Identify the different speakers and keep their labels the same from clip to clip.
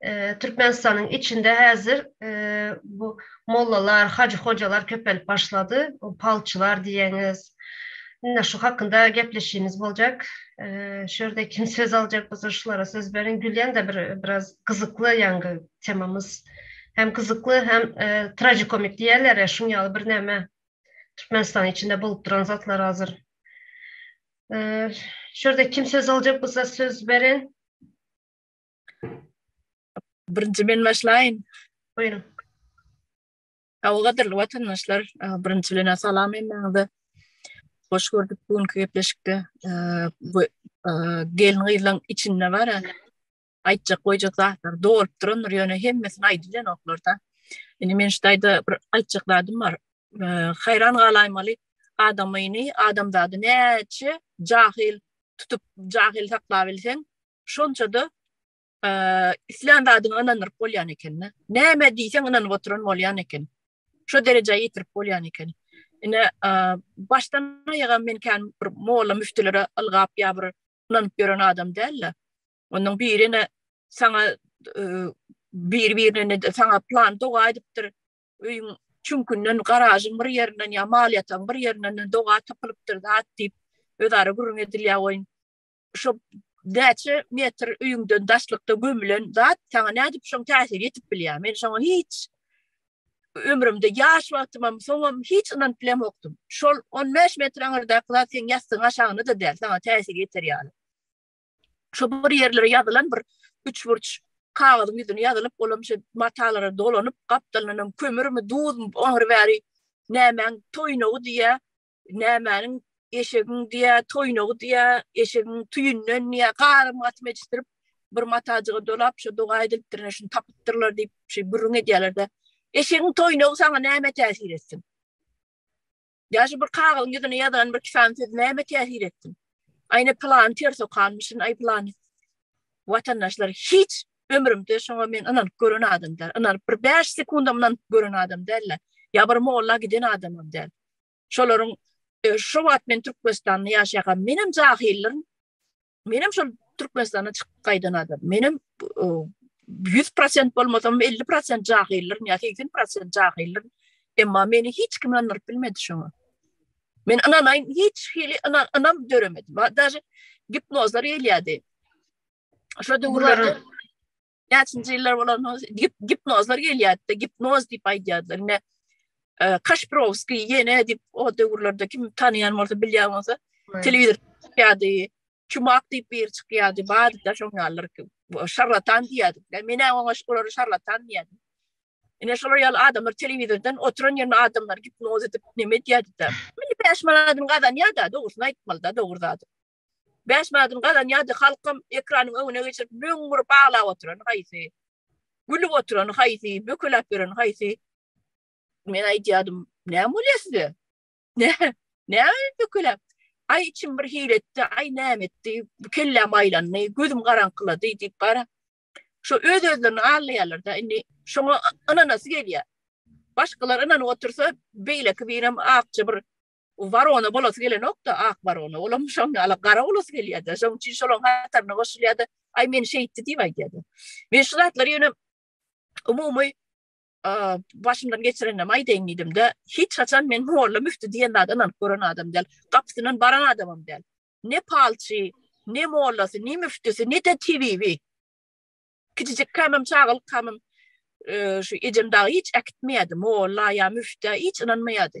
Speaker 1: e, Türkmenistanyň içinde hazır e, bu mollalar, hacı hocalar köpelip başladı. O palçylar diyeniz. Indi şu hakkında gepleşimiz boljak. E, şurada kim söz alacak bolsa şulara söz beriň. Gülýän de bir biraz gyzykly ýaňky temamyz. Hem gyzykly hem e, trajikomik diýerler ya şun ýaly bir näme. Türkmenistan içinde bolup duran zatlar hazır. E, şurada kim söz alacak bolsa söz beriň.
Speaker 2: Birinji men başlaýyn.
Speaker 1: Buyurun. Awa
Speaker 2: gadyrly watandaşlar, e, birinji bilen salam hemmäňize. Hoş gördük bu günki gepleşikde. E, bu e, gelin gyzlaryň içinde bar yani. Aýtjak goýjak zatlar dolup durandyr, ýöne hemmesini aýdylýan oklarda. Indi men şu taýda bir aýtjak zadym bar. E, Haýran galaýmaly adamyny, adamzady näçe jahil tutup jahil saklabilseň, şonça-da islän zadyňa ynanyryp bolýan ekeni. Näme diýseň ynanyp oturan bolýan eken. Şo derejä ýetirip bolýan eken. Ine, başdan aýaga men kän bir molla müftülere ylgap ýa bir ynanyp ýören adam däldi. Onuň biri ine saňa bir-birine de saňa plan doga edipdir. Öýüň çünkünden garažyň bir ýerinden ýa mal ýatan bir ýerinden doga tapylypdyr zat diýip özara gürrüň edilýär oýun. Şu näçe metr öýüňden daşlykda gömülen zat saňa nädip şoň täsir ýetip bilýär? Men şoňa hiç ömrümde ýaş wagtymam, soňam hiç ynanyp bilemokdym. Şol 15 metr aňyrdaky zat seň ýassygyň aşagyna da däl, saňa täsir ýeter ýaly. Şu bir ýerlere ýazylan bir üçburç kagyzyň ýüzüne ýazylyp, olam şu matalara dolanyp, gapdalynam kömürmi, duzmy, oňry bäri nämäň toýnagy diýýär. nämäniň eşegiň diýä toýnagy diýä eşegiň tüýünden diýä garym gatym etişdirip bir matajyga dolap şu doga edilipdir şuny tapypdyrlar diýip şu gürrüň edýärler de eşegiň toýnagy saňa näme täsir etsin ýa şu bir kagyzyň ýüzüne ýazan bir kisan söz näme täsir etsin aýna plan ter sokanmyşyn aý plan watandaşlar hiç ömrümde şoňa men ynanyp gören adamdar ynanyp bir 5 sekundamdan gören adam däl ýa bir molla giden adamam däl Şolaryň e, şu wagt men Türkmenistanda ýaşaýan, menem jahyllarym. Menem şol Türkmenistana çykyp gaýdan adam. Menem 100% bolmasam 50% jahyllarym ýa 80% jahyllarym. Emma meni hiç kim anlaryp bilmedi şoňa. Men ananaýyn hiç hili anan anam döremedi. Daşy gipnozlar elýärdi. Şo döwürlerde näçinji ýyllar bolan gipnozlar gelýärdi, gipnoz diýip aýdýardylar. Ine, e, Kaşprowski ýene diýip o döwürlerde kim tanýan bolsa, bilýän bolsa, telewizor çykýardy, çumak diýip bir çykýardy, barda şoň ýalylar ki, şarlatan diýýärdik. Menä oňa şolary şarlatan diýýärdi. Ine şolar ýaly adamlar telewizordan oturan ýerine adamlar gipnoz edip neme diýýärdi-de. Meni 5 manadyny gazanýar-da, dogrusyny aýtmaly-da, dogry zady. Bäş manatyn gazanýardy, halkam ekranyň öňüne geçirip müň urup aglap oturany haýsy, gülüp oturany haýsy, bökeläp ýöreni haýsy. Men aýdýardym, näme bolýar size? Näme, näme bökeläp? Aý içim bir hili etdi, aý näme etdi, kelläm aýlandy, gözüm garaňkylady diýip gara. Şo öz-özlerini allaýarlar-da, indi şoňa ynanasy gelýär. Başgalar ynanyp otursa, beýleki birem akja bir O barona bolasy gelenok-da, ak barona. Olam şoň ýaly gara bolasy gelýär-de. Şoň üçin şolaň hataryna goşulýar-da, Aý, meni şeýtdi diýip aýdýar-da. Men şu zatlary ýöne umumy başymdan geçirenimi aýdaýyn diýdim-de, hiç haçan men molla müfti diýen zada ynanyp gören adam däl. Gapysyndan baran adamam däl. Ne palçy, ne mollasy, ne müftisi, ne-de tebibi. Kiçijik kämem, çagalyk kämem şu ejem dagy hiç äkitmeýärdi. Molla ýa müftä hiç ynanmaýardy.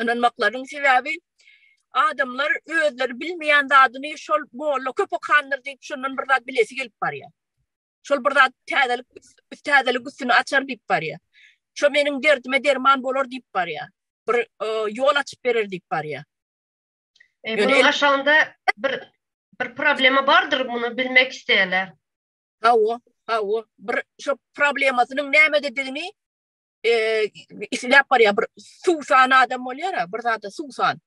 Speaker 2: ynanmaklarynyň sebäbi adamlar özleri bilmeýän zadyny şol molla köp okandyr diýip şondan bir zat bilesi gelip barýar. Şol bir zat täzelik täzelik üstüni açar diýip barýar. Şo meniň derdime derman bolar diýip barýar. Bir e, ýol açyp berer diýip barýar. E,
Speaker 1: Bunun aşağında bir bir problema bardyr bunu bilmek isteýärler. Hawa,
Speaker 2: hawa, bir şu problemasynyň nämedigini isläp barýar bir suwsan adam bolýar a bir zada suwsan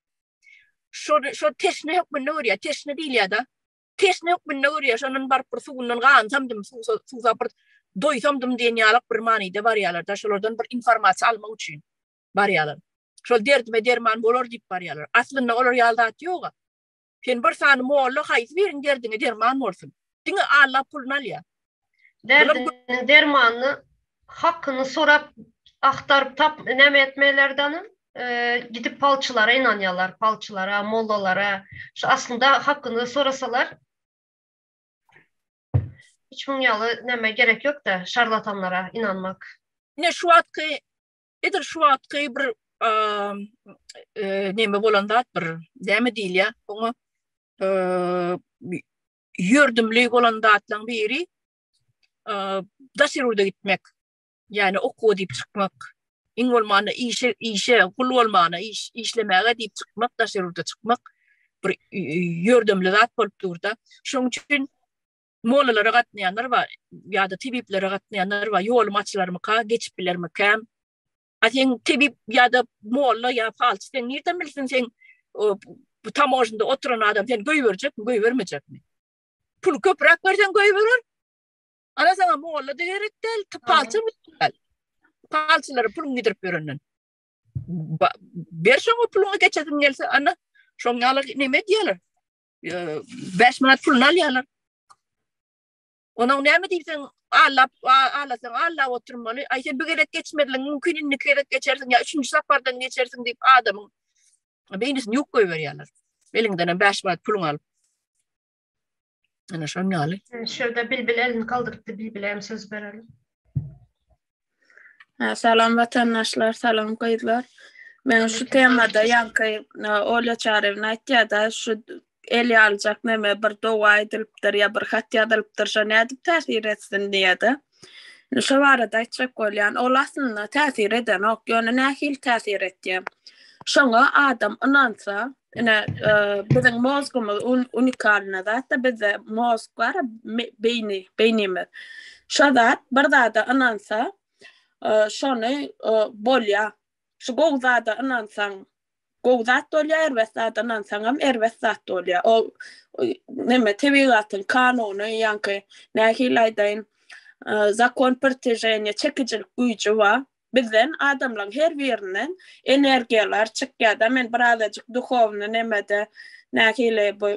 Speaker 2: şo şo teşne hökmünde görýär teşne diýilýär-de teşne hökmünde görýär şondan baryp bir suwundan gansamdym suwsa suwsa bir doýsamdym diýen ýaly bir manyda barýarlar da şolardan bir informasiýa almak üçin barýarlar şol derdime derman bolar diýip barýarlar aslynda olar ýaly zat ýok-a Sen bir sany molla haýsy biriň derdine derman bolsun. Diňe Alla puluny alýar. Derdiniň
Speaker 1: dermanyny hakyny sorap agtaryp tap näme etmelerden gidip palçylara ynanýarlar palçylara mollalara şu aslynda hakyny sorasalar hiç muň ýaly näme gerek ýokda şarlatanlara ynanmak. Ine şu wagtky
Speaker 2: Edil şu wagtky bir neme bolan zat bir näme diýilýär? Oňa ýördümli bolan zatlaryň biri daş ýurda gitmek. Ýani okuwa diýip çykmak. Iň bolmanda işe, işe gul bolmana, iş, işlemäge diýip çykmak, daş ýurda çykmak bir ýördümli zat bolup durda. Şoň üçin Mollalara gatnaýanlar bar, ýa-da tebiplere gatnaýanlar bar, ýolum açylarmyka, geçip bilermikäm? A sen tebip ýa-da molla ýa falçy sen nirden bilsin sen bu tamožnda oturan adam sen göýberjekmi, göýbermejekmi? Pul köpräk berseň göýberer. Ana sana molla da gerek däl, palçy däl. Palçylara puluny gidirip berenden. Berşoň o puluny geçesin gelse, ana şoň ýaly neme diýerler? 5 manat puluny alýarlar. Onuň näme diýsen, allap, alasaň, allap oturmaly. Aý sen bir gezek geçmedin, mümkin indi iki gezek geçersiň ýa üçünji sapardan geçersiň diýip adamyň beýnisini ýuwup goýberýärler. Eliňden hem 5 manat puluň alyp. Ana şon ýaly. Şurada bilbil elini
Speaker 1: galdyrypdy, bilbil hem söz berelim.
Speaker 3: Salam watandaşlar, salam gyzlar. Men şu temada ýaňky Olya Çarewna aýtýarda şu el ýalyjak neme bir dowa aýdylypdyr ýa bir hat ýazylypdyr şo nädip täsir etsin diýýärdi. Indi şo barada aýtjak bolýan ol aslynda täsir edenok ýöne nähili täsir etýär. Şoňa adam ynansa Ine, biziň mozgumyz unikalny zat-da, bizde mozg bar, beýni, beýnimiz. Şo zat bir zada ynansa, şony bolýar. Şu gowy zada ynansaň, gowy zat bolýar, erbet zada ynansaň hem erbet zat bolýar. O näme, tebigatyň kanuny, ýaňky nähili aýdaýyn, zakon priteženiýa, çekijilik güýji bar. Bizden adamlaň her birinden energiýalar çykýada men bir azajyk duhowny nemede nähili bu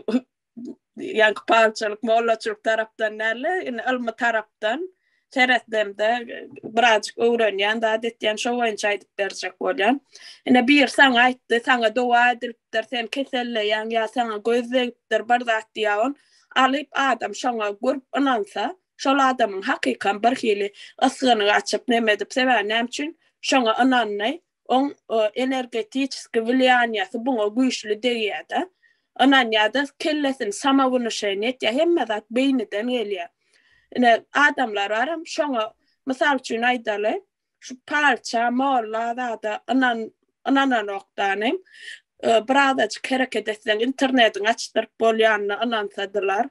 Speaker 3: ýaňky palçylyk mollaçylyk tarapdan dälde indi ylmy tarapdan seretdemde bir azajyk öwrenýän zat etýän şo boýunça aýdyp berjek bolýan. Ine biri saňa aýtdy saňa dowa edilipdir sen keselleýäň ýa saňa göz degipdir bir zat diýaon alyp adam şoňa gurp ynansa Şol adamyň hakykam bir hili ysgyny gaçyp, neme edip, sebäbi näme üçin şoňa ynandy, oň energetiçeskiý wlýaniýasy buňa güýçli degýär-de, ynanýar-da, kellesini samownušeniýe etýär, hemme zat beýniden gelýär. Ine, adamlar bar hem şoňa, mysal üçin aýdaly, şu parça molla zada ynan ynananokdanym e, birazajyk hereket etseň internetiň açdyryp bolýanyna ynansadylar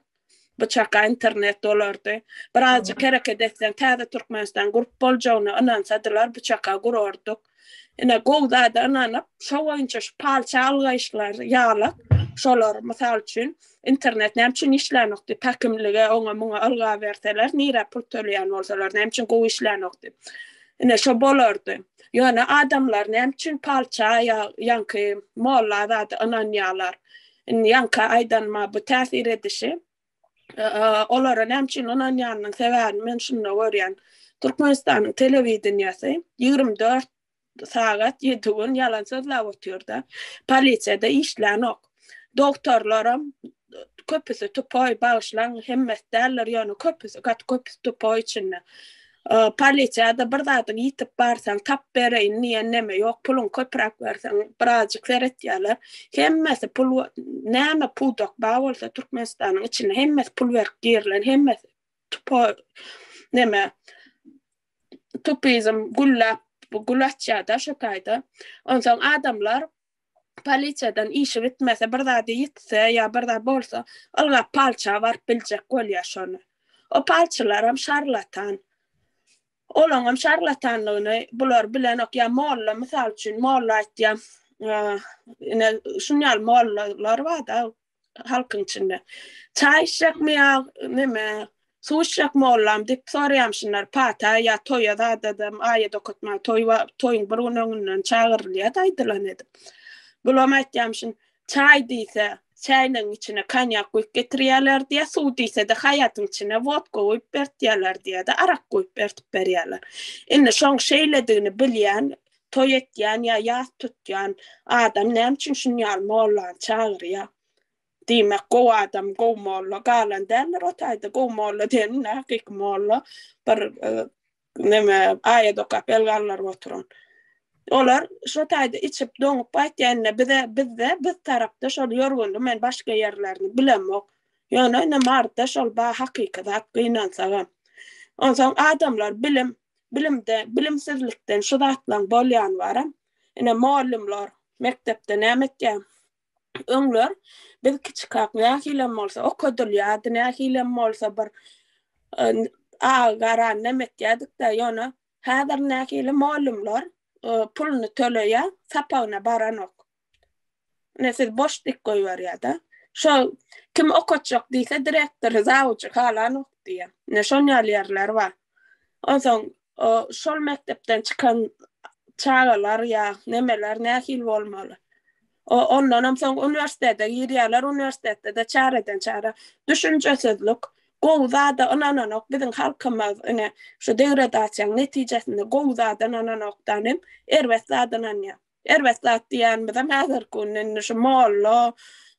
Speaker 3: bu çaka internet dolardy birazajyk hereket etseň täze türkmenistan gurup boljagyna ynansadylar bu çaka gurardyk ine gowy zada ynanyp şo boýunça şu parça algaýyşlar ýaly şolar mysal üçin Internet näme üçin işlänok diýip, häkimlige, oňa, muňa ylga berseler, nirä pul töleýän bolsalar, näme üçin gowy işlänok diýip. Ine, şo bolardy. Ýöne adamlar näme üçin palça ýa ýaňky molla zada ynanýarlar? Indi ýaňky aýdanyma bu täsir edişi, olara näme üçin ynanýanynyň sebäbini men şunda görýän. Türkmenistanyň telewideniýesi ýigrimi dört sagat ýedi gün ýalan sözläp otyrda. Polisiýada işlänok. Dogtorlaram köpüsi tupoý, bagyşlaň, hemmesi däldir, ýöne köpüsi, gaty köpüsi tupoý içinde. Polisiýada bir zadyň ýitip barsaň, tap bereýin diýen neme ýok, puluň köpräk berseň, birazjyk seretýärler. Hemmesi pul, näme pudak bar bolsa Türkmenistanyň içinde, hemmesi pul berip girilen, hemmesi tupoý, neme, utopizm gülläp gül açýar-da şo taýda. Onsoň adamlar polisiýadan işi bitmese, bir zady ýitse ýa bir zat bolsa, ylgap palça baryp biljek bolýar şony. O palçylaram şarlatan. Olaňam şarlatanlygyny bular bilenok. Ýa molla, mysal üçin, molla aýtýan, ine, şuny ýaly mollalar bar-da, halkyň içinde. Çaý içjekmi ýa neme, suw içjek mollam diýip soraýamşynlar. Pata ýa toýa zadadam, aýa dokatma, toý we toýuň bir gün öňünden çagyrylýar daýdylan edip. Bulam aýtýamşyn, çaý diýse, çäýniň içine konýak guýup getirýärler diýýär, suw diýse-de haýatyň içine wodka guýup bertýärler diýýär-de, arak guýup bertip berýärler. Indi şoň şeýledigini bilýän Toý etýän ýa ýas tutýan adam näme üçin şunýaly mollany çagyrýar? Diýmek, gowy adam, gowy molla galan däldir o taýda. Gowy molla diýen indi hakyky molla, bir neme, aýat okap el galdyryp oturan. Olar şo taýda içip, doňup gaýtýan-da, bize, bizde, biz tarapda şol ýörgünli, men başga ýerlerini bilemok. Ýöne ine Maryda şol bar hakyky zat gynansagam. Onsoň adamlar bilim, Bilimde, bilimsizlikden şu zatlaň bolýany baram. Ine, mugallymlar mekdepde näme etýär? Öňler biz kiçikak nähilem bolsa okadylýardy, nähilem bolsa bir aga gara näme etýärdik-de, ýöne häzir nähili mugallymlar puluny töleýär, sapagyna baranok. Ine siz boş tik goýberýärda. Şo kim okatjak diýse direktory, zawuçy halanok diýýä. Ine şon ýaly ýerler bar. Onsoň o şol mekdepden çykan çagalar ýa nemeler nähili bolmaly? O ondanam soň uniwersitete girýärler, uniwersitetde-de çäreden çäre düşünjesizlik, gowy zada ynananok biziň halkymyz ine şu degradasiýaň netijesinde gowy zada ynananokdan hem erbet zada ynanýar. Erbet zat diýýänimizem häzirki günde indi şu molla,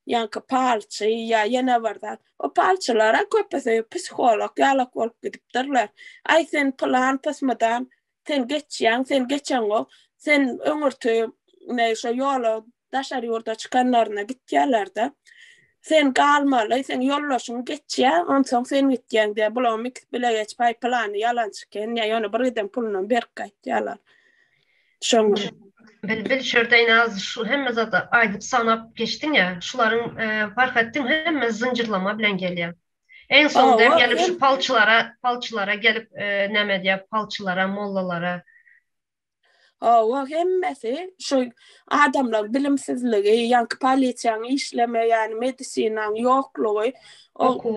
Speaker 3: ýaňky palçy ýa ýene bir zat. O palçylar-a köpüsi psiholog ýalak bolup gidipdirler. Aý, sen pylan pysmydan, sen geçýäň, sen geçeňok, sen öňürti neý şo ýola daşary ýurda çykanlaryna gitýärler-de, sen galmaly, seň ýoldaşyň geçýär, onsoň sen gitýäň diýýär. Bularyň ikisi bilegeç, Aý, pylany ýalançy eken, ýa ýöne bir giden pulunam berk gaýtýarlar. Şoň Bilbil
Speaker 1: şurda naz şu hemme zada aýdyp sanap geçdiň ýa şularyň Farhatdyň hemme zynjyrlama bilen gelýär. Eň soňda hem gelip şu palçylara palçylara gelip näme diýýär palçylara mollalara. Hawa
Speaker 3: hemmesi şu adamlaryň bilimsizligi ýaňky polisiýaň işlemeýäni medisinanyň ýoklugy okuw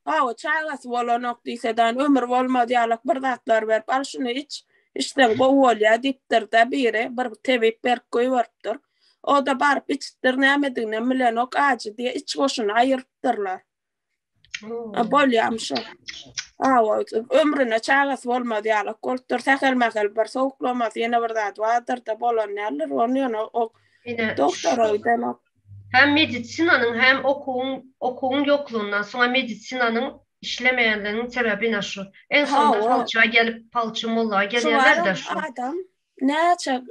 Speaker 3: Hawa, çagasy bolanok diýsedan, ömür bolmaz ýalak bir zatlar berip, al şuny iç, içseň gowy bolýar diýipdir-de biri, bir tebip berip goýberipdir. O-da baryp içipdir, nämediginem bilenok, ajy diýe iç goşuny aýyrypdyrlar. A, bolýamy şo? Hawa, ömrüne çagasy bolmaz ýalak bolupdyr, sähel-mähel bir sowuklamasy, ýene bir zady bardyr-da, bolan däldir, ony ýöne o dogtora gidenok. Hem
Speaker 1: medisinanyň hem okuwyň okuwyň ýoklugyndan soňa medisinanyň işlemeýänliginiň sebebi ine şu. Eň soňunda falça gelip falçy molla gelýärler de şu. Adam
Speaker 3: näçe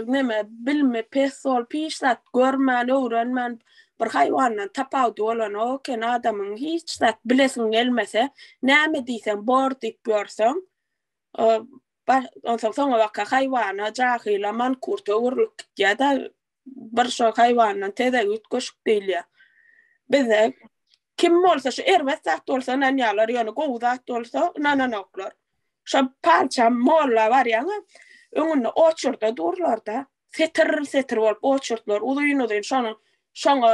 Speaker 3: neme bilme pes bolup hiç zat görmän öwrenmän bir haýwandan tapawudy bolanok eken adamyň hiç zat bilesiň gelmese näme diýseň bor diýip ýörseň onsoň soňabaka haýwana jahyla mankurta öwrülip gitýär da bir şo haýwandan tezek üýtgeşik diýilýär. Bizde kim bolsa şu erbet zat bolsa ynanýarlar, ýöne gowy zat bolsa ynananoklar. Şo parça molla barýaňa, öňünde oçurda durlar-da, setir-setir bolup oçurtlar uzyn-uzyn şonuň şoňa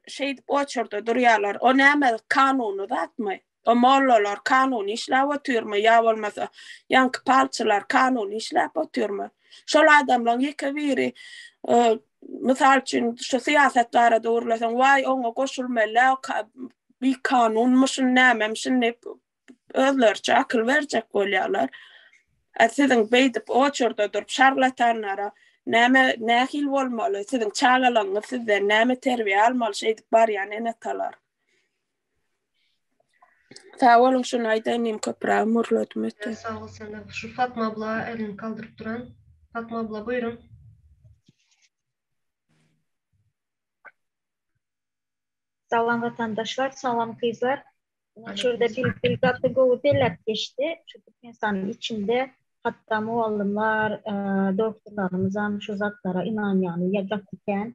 Speaker 3: şeýdip oçurda durýarlar. O näme kanuny zatmy? O mollalar kanuny işläp otyrmy ýa bolmasa ýaňky palçylar kanuny işläp otyrmy? Şol adamlaň ýeke biri mysal üçin şu syýasat barada gürleseň waý oňa goşulmelä bikanunmyşyn nämemişin diýip özleriçe akyl berjek bolýarlar. A siziň beýdip oçurda durup şarlatanlara näme nähili bolmaly siziň çagalaňyz sizden näme terbiýe almaly şeýdip barýan ene-atalar? Sag boluň, şuny aýdaýyn diýdim, köpräk mürledimi öten. Sag bol sende. Şu Fatma abla elini galdyryp duran.
Speaker 1: Fatma abla
Speaker 4: buýruň. Salam watandaşlar, salam gyzlar. Şurada Bilbil gaty gowy belläp geçdi. Şu Türkmenistanyň içinde hatda mugallymlar, doktorlarymyzam şu zatlara ynanýarlar ýa gaty kän.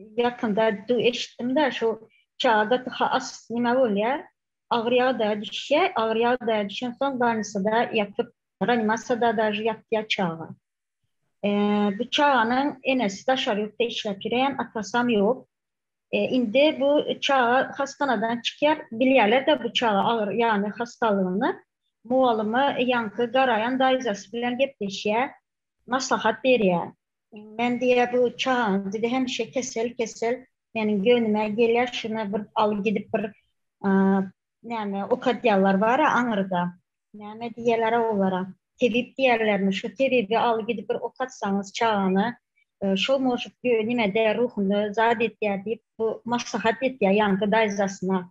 Speaker 4: Ýakynda du eşitdim-de, şu çaga gaty has nima bolýar, agyr ýagdaýa düşýär, agyr ýagdaýa düşensoň bannisada ýatyp, reanimasiýada dažy ýatýar çaga. Bu çaganyň enesi daşary ýurtda işläp ýörýän, atasam ýok. Indi bu çaga hassanadan çykýar, bilýärler-de bu çaga agyr ýany hassalygyny. Mugallyma ýaňky garaýan daýzasy bilen gepleşýär, maslahat berýär. Men diýýär, bu çagaň diýdi, hemişe kesel, kesel. Meniň göwnüme gelýär, şuny bir al gidip bir näme ukadýalar bar-a aňyrda. Näme diýýäler-ä olara? Tebip diýýärlermi? Şu tebibi al gidip bir okatsaňyz çagany, şol možut nime-de ruhuny zat edýär diýip, bu maslahat edýär ýaňky daýzasyna.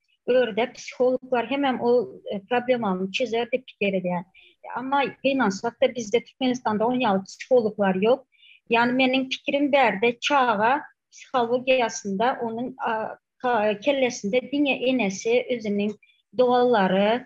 Speaker 4: Ördek psihologlar hemem o e, problemany çözer diýip pikir edýär. Amma gynansak-da bizde Türkmenistanda on ýaly psihologlar ýok. Ýani meniň pikirim bärde çaga psihologiýasynda onuň kellesinde diňe enesi, özüniň doganlary,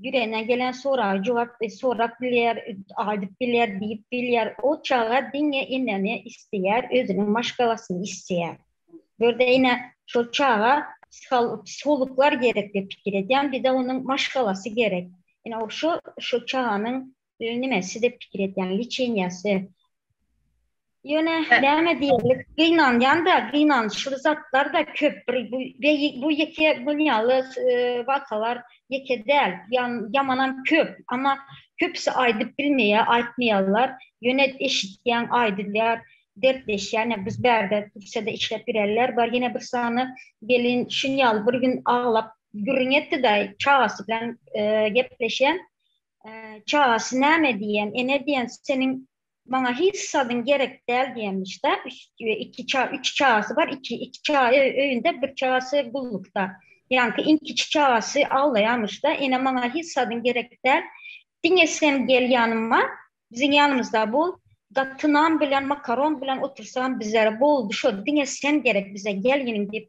Speaker 4: Ýüregine gelen soraga jogap sorap bilýär, aýdyp bilýär, diýip bilýär. O çaga diňe enäni isleýär, özüniň maşgalasyny isleýär. Bu ýerde ine, şol çaga psihologlar gerek diýip pikir edýän, bir-de onuň maşgalasy gerek. Ine, o şu çaganyň Nime siz dep pikir etýän liçeniýasy. Ýöne näme diýerlik gynanýan-da, gynançly zatlar-da köp. Bir bu bu ýeke muny ýaly wakalar ýeke däl. Ýan ýamanam köp. Emma köpüsi aýdyp bilmeýär, aýtmaýarlar. Ýöne eşitýän aýdylýar, dertleşýän. Ýa biz bärde Türkiýede işläp ýöränler bar. Ýene bir sany gelin şuny ýaly bir gün aglap gürrüň etdi-de, çagasy bilen gepleşen. Çagasy näme diýen, ene diýen seniň maňa hiç sadyň gerek däl diýenmiş-de, iki ça, üç çagasy bar, iki, iki ça öýünde, bir çagasy gullukda. Ýaňky iň kiçi çagasy aglaýarmyş-da, ene maňa hiç sadyň gerek däl, diňe sen gel ýanyma, biziň ýanymyzda bol, gaty nan bilen, makaron bilen otursam bizlere boldy şo, diňe sen gerek bize, gelniň diýip,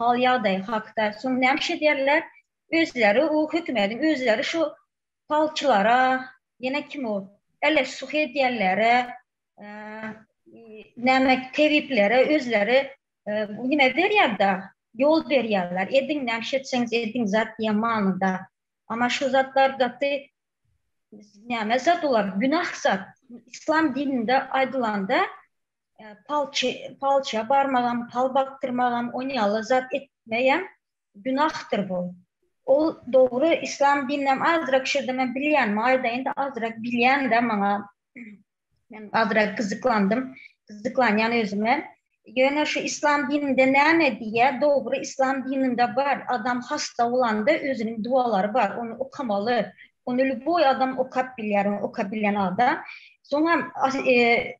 Speaker 4: Hal ýagdaýy hakda soň näme iş edýärler? Özleri o hökümediň özleri şu palçylara ýene kim o ele suh edýänlere näme tebiplere özleri nime berýärda ýol berýärler ediň näme iş etseňiz ediň zat diýen manyda ama şu zatlar gaty näme zat olar günah zat islam dininde aýdylanda palçya barmagam, pal bakdyrmagam, on ýaly zat etmeýän günahdyr bu. Ol dogry islam dininem azrak şirdenem bilýänmi aýdaýynda azrak bilýände maňa men azrak gyzyklandym, gyzyklanýan özüme. Ýöne şu islam dininde näme diýýä, dogry islam dininde bar, adam hasta bolanda özüniň dualary bar, ony okamaly, ony lýuboý adam okap bilýär, ony okabilýän adam. Soňam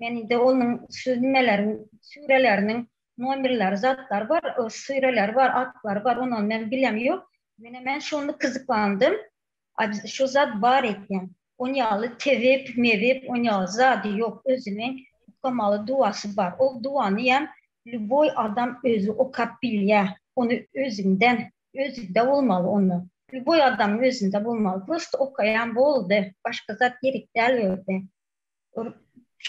Speaker 4: Men indi onuň süzmeleriň süreleriniň nomerleri zatlar bar süreleri bar atlary bar onany men bilem ýok menä men şonda kyzyklandym a biz şu zat bar eken on ýaly tebip mebip on ýaly zady ýok özüni okamaly duwasy bar ol duwany ýam lýuboý adam özi okap bilýä ony özüňden özüňde bolmaly ony lýuboý adamyň özünde bolmaly prosta okaýan boldy başga zat gerek däl bu ýerde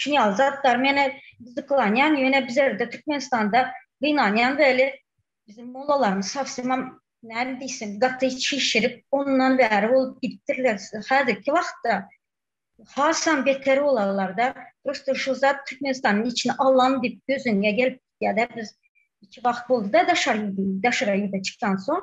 Speaker 4: Şun ýaly zatlar meni gyzyklanýan, ýöne bizerde Türkmenistanda gynanýan weli biziň mollalarymyz sowsemem näme diýsem gaty çişirip ondan bäri bolup gidipdirler. Häzirki wagtda hasam beter bolarlarda. Prosta şu zat Türkmenistanyň içini alan diýip gözüňe gelip gidýärde biz iki wagt bolduda daşary daşara ýüze çykansoň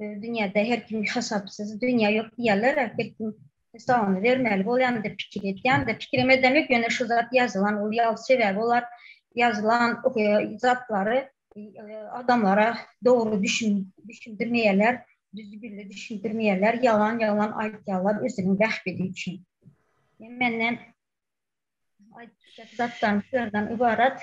Speaker 4: dünýäde her kim hasapsyz dünýä ýok diýýärler her kim hesabyny bermeli bolýan diýip pikir edýän de pikirem edemek ýöne şu zat ýazylan ol ýaly sebäbi olar ýazylan zatlary adamlara dogry düşün düşündirmeýärler düzü billi düşündirmeýärler ýalan ýalan aýdýarlar özüniň bähbidi üçin menden aýdyp zatdan şulardan ybarat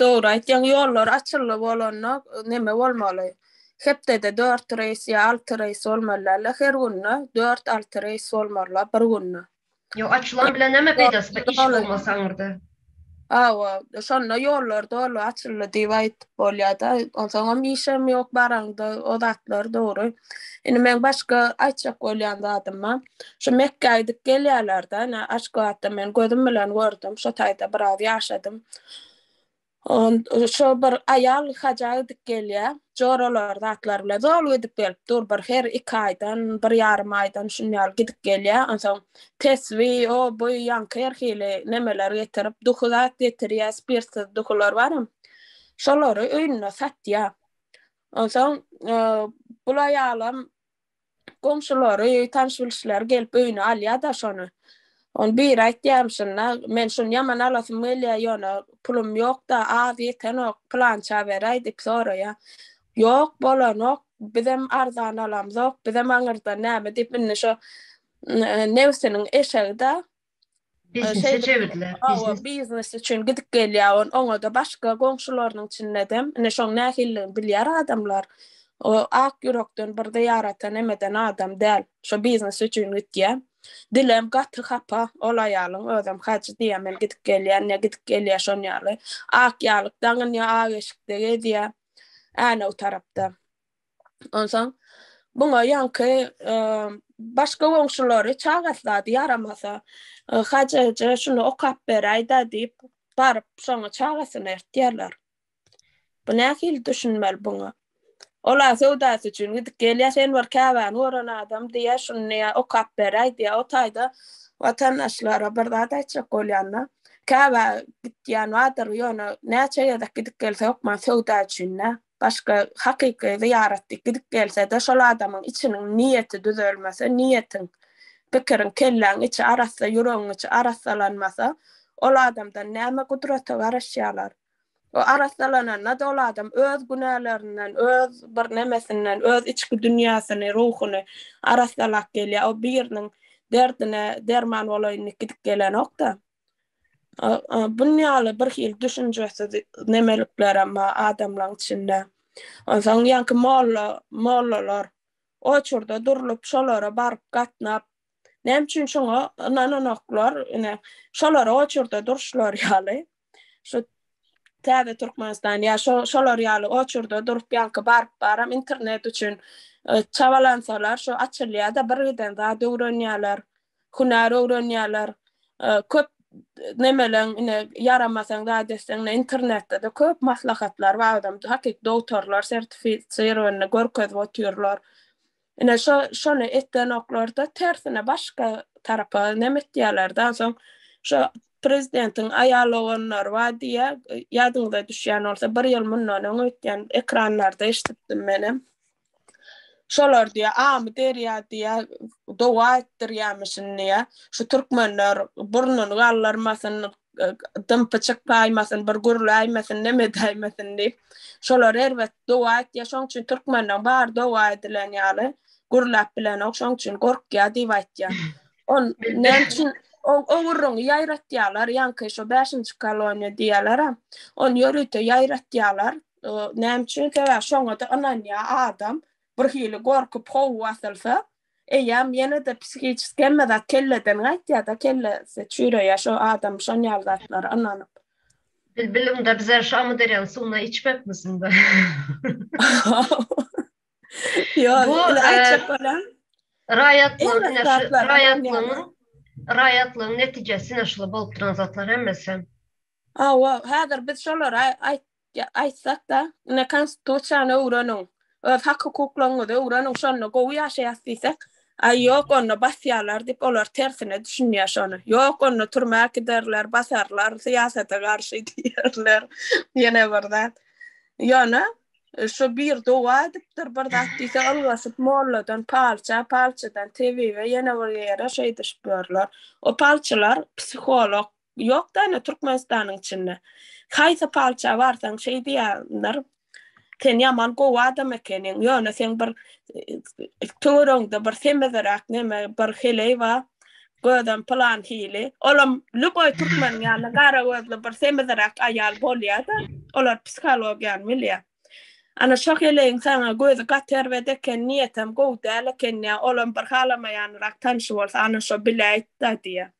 Speaker 3: Dogry aýtýaň ýollar açyldy bolanda neme bolmaly hepdede dört reýs ýa alty reýs bolmaly dälde her günde dört alty reýs bolmalyla bir günde. Ýok
Speaker 1: açylan
Speaker 3: bilen näme peýdasy bar iş bolmasa aňyrda. Hawa şonda ýollar doly açyldy diýip aýdyp bolýada onsoňam işem ýok baraňda o zatlar dogry indi meň başga aýtjak bolýan zadym bar Şu Mekgä gidip gelýärler-de, ine, Aşgabatda men gözüm bilen gördüm, şo taýda biraz ýaşadym. On, şo bir aýal haja gidip gelýär, joralar, zatlar bilen zol gidip gelip dur, bir her iki aýdan, bir ýarym aýdan şuny ýaly gidip gelýär, onsoň tesbi, o, bu, ýaňky her hili nemeler getirip, duhy zat getirýär, spirtsiz duhylar baram, şolary öýünde satýar. Onsoň, bul aýalam Goňşulary, tanyş-bilişleri gelip öýüne alýar-da şony. Ony biri aýtýarmyşyn-da, Men şuny ýaman alasym gelýär, ýöne pulum ýok-da, az ýetenok, pylança beräý diýip soraýar. Ýok, bolanok, bizem arzan alamzok, bizem aňyrdan näme diýip, indi şo nebsiniň eşegi-dä. Biznese
Speaker 1: çevirdiler. Hawa, biznes üçin
Speaker 3: gidip gelýär, oňa-da başga goňşularynyň içinde-de, ine, şoň nähilligini bilýär adamlar. O ak ýürekden birde ýaratan emeden adam däl. Şo biznes üçin gitýär. Dilem gaty hapa ol aýalyň, özem hajy diýýär, men gidip gelýän, ne gidip gelýär şon ýaly. Ak ýalyk daňynýar, ak eşikde gezýär, Änew tarapda. Onsoň Buňa ýaňky başga goňşulary çagasy zady ýaramasa, Hajy eje şuny okap beräý-dä diýip, baryp şoňa çagasyny ertýärler. Bu nähili düşünmeli buňa? Olar söwdasy üçin gidip gelýär, sen bir käbäni gören adam diýýär, şuny okap beräý diýýär. O taýda watandaşlara bir zat aýtjak bolýanda, käbä gitýän bardyr, ýöne näçe gezek gidip gelse hökman söwda üçin-dä. Başga hakyky zyýaratdyk gidip gelse-de, şol adamyň içiniň niýeti düzelmese, niýetiň, pikiriň, kelläň içi arassa, ýüregiň içi arassalanmasa, ol adamdan näme gudrata garaşýarlar? O arassalananda-da ol adam öz günälerinden, öz bir nemesinden, öz içki dünýäsini, ruhuny arassalap gelýär. O biriniň derdine derman bolaýyndyk gidip gelenok-da. Bunun ýaly birhili düşünjesiz nemeliklerem bar adamlaryň içinde. Onsoň ýaňky molla, mollalar o çurda durlup, şolara baryp gatnap, näme üçin şoňa ynananoklar, ine, şolara o çurda durşlary ýaly, şu täze Türkmenistan ýa şo, şolar ýaly o çurda durup, ýaňky baryp baram internet üçin e, çabalansalar, şu açylýar-da, birgiden zat öwrenýärler. hünär öwrenýärler. Köp nemeleň ine ýaramasaň zat etseň ine internetde-de köp maslahatlar bar adam hakyky dogtorlar sertifisirowanyny görkezip otyrlar. Ine şo şony etdenoklarda tersine başga tarapa neme etýärler-de ansoň şo prezidentiň aýal oganlary bar diýýär ýadyňyza düşýän bolsa bir ýyl mundan öň öýtýän ekranlarda eşidipdim menem. Şolar diýä, Amy derýa diýä, doga etdirýämişin diýä. Şu türkmenler burnuny gallarmasyn, dym-pyçyk saýmasyn, bir gürläýmesin, neme edäýmesin diýip. Şolar erbet doga etýä, şoň üçin türkmenden bar doga edilen ýaly gürläp bilenok, şoň üçin gorkýa diýip aýtýa. On näme üçin o ogurruny ýaýratýalar, ýaňky şo bäşinji koloniýa diýýäler-ä. Ony ýörite ýaýratýalar. Näme üçin? Sebäbi şoňa-da ynanýar adam. Bir hili gorkup howwy basylsa, eýýäm ýene-de psihiçeski hemme zat kelleden gaýtýar-da, kellesi çüýreýär şo adam şon ýaly zatlara ynanyp. Biz bilimde
Speaker 1: bize şu Amyderýanyň suwundan içmekmisiňda?
Speaker 3: Ýok, indi aýtjak bolan. Raýatlygyň,
Speaker 1: ine şu raýatlygyň, raýatlygyň netijesi ine şular bolup duran zatlar hemmesi. Hawa,
Speaker 3: häzir biz şolary aýtsak-da, ine, Konstitusiýany öwreniň, öz hak-hukuklaryňyzy öwreniň, şonda gowy ýaşaýas diýsek, aý, ýok, onda basýarlar diýip, olar tersine düşünýär şony. Ýok, onda türmä äkiderler, basarlar, syýasata garşy diýerler. Ýene bir zat, ýöne şu bir doga edipdir, bir zat diýse, ylgaşyp molladan palça, palçydan tebibe, ýene bir ýere şeýdişip ýörler. O palçylar psiholog Ýok da ene Türkmenistanyň içinde. Haýsy palça barsaň şeý diýýänler. Sen ýaman gowy adam ekeniň, ýöne seň bir töweregiňde bir semizräk neme bir heleý bar. Gözem pylan hili. Olam lüboý türkmeniň ýaly gara gözli bir semizräk aýal bolýa-da. Olar psihologiýany bilýär. Ana şo heleýiň saňa gözi gaty erbet eken, niýetem gowy däl eken diýýär. Olam bir halamaýanyrak tanşy bolsa ana şo biläýit-da diýýär.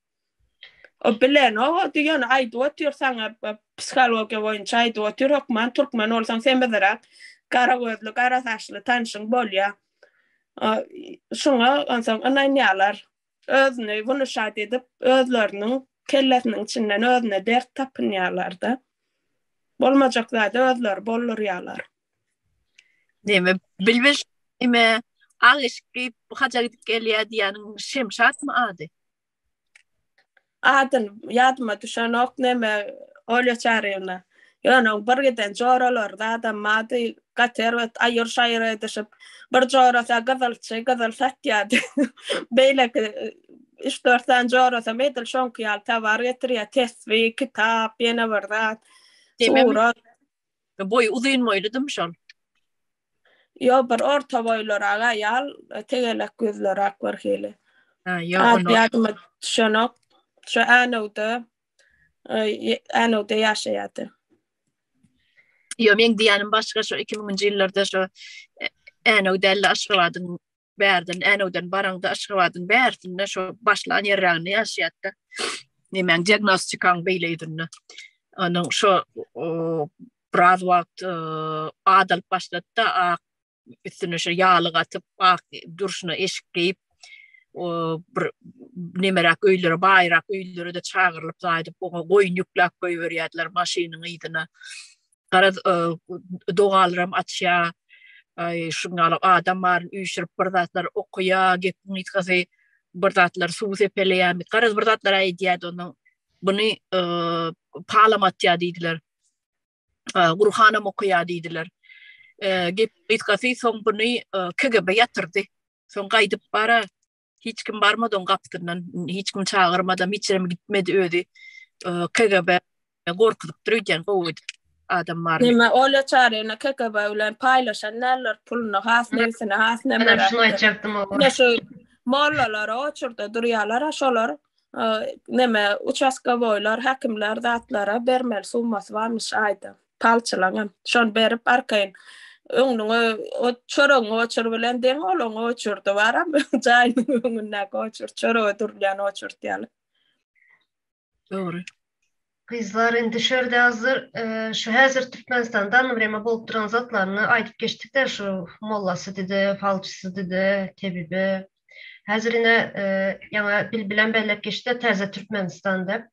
Speaker 3: O bilen o diýen aýdyp otyr saňa psihologiýa boýunça aýdyp otyr hökman türkmen bolsaň sen bizräk gara gözli gara saçly tanşyň bolýa. Şuňa onsoň ynanýalar. Özüni wnuşat edip özleriniň kellesiniň içinden özüne dert tapynýalarda. Bolmajak zady özleri boldurýalar.
Speaker 2: Neme bilbil ime agyşky haja gidip gelýä diýýäniň Şemşatmy ady? Adyn
Speaker 3: ýadyma düşenok neme Olýa Çaryýewna. Ýöne oň bir giden joralary zada mady gaty erbet aýyr-şaýyr edişip bir jorasa gyzylçy gyzyl satýady. Beýleki üç-dört sany jorasam edil şoňky ýaly tovar getirýä tesbi, kitap, ýene bir zat, surat.
Speaker 2: Boýy uzyn boýludym şol.
Speaker 3: Ýok bir orta boýlarak aýal, tegelek gözlerak bir hili. Ha ýok. Ady ýadyma düşenok. Şu Änewde Änewde ýaşaýardy.
Speaker 2: Ýok meň diýýänim başga şu 2000-nji ýyllarda şu Änew däl-de Aşgabadyň bärden Änewden baraňda Aşgabadyň bärsinde şu başlan ýerräginde ýaşaýatda. Nemäň diagnostikaň beýleýdinde. Onuň şu biraz wagt e, adalyp başlatda ak üstüne şu ýaly gatyp ak durşuna eşik geýip o bir nemerak öýlere baýrak öýlere de çagyrylyp zaýdyp oňa goýun ýükläp goýberýärdiler maşynyň yzyna Garaz, dogalaram açýa, aý, şuň ýaly adam baryn üýşürip bir zatlar okaýa, gepiň gysgasy bir zatlar suwy sepeleýämi, garaz bir zatlar aýdýa-da ondan buny palam atýa diýdiler. Gurhanam okaýa diýdiler. Gepiň gysgasy soň buny KGB ýatyrdy. Soň gaýdyp bara Hiç kim barmadan gapdyndan, hiç kim çagyrmadan, hiç ýere gitmedi özi. KGB gorkuzyp durýan gowy adam bar. Näme ola çaryny
Speaker 3: KGB bilen paýlaşan näler puluny has nebsini has näme. Ana şunu aýtjakdym o.
Speaker 1: Näme şu
Speaker 3: mollalar o çurda durýarlar şolar näme uçaska boýlar häkimler zatlara bermeli summasy barmyş aýda. palçylaňam. Şony berip, arkaýyn öňüňe ot, çöregiňi oçur bilen deň olaň oçurdy baram, jaýynyň öňündäki oçurt, çörege durulýan oçurt ýaly. Dogry.
Speaker 1: Gyzlar indi şu ýerde hazır şu häzir Türkmenistanda anna bireme bolup duran zatlaryny aýdyp geçdik-de şu mollasy dide, falçysy dide, tebibi. Häzir ine ýaňa Bilbilem belläp geçdi täze Türkmenistan dep.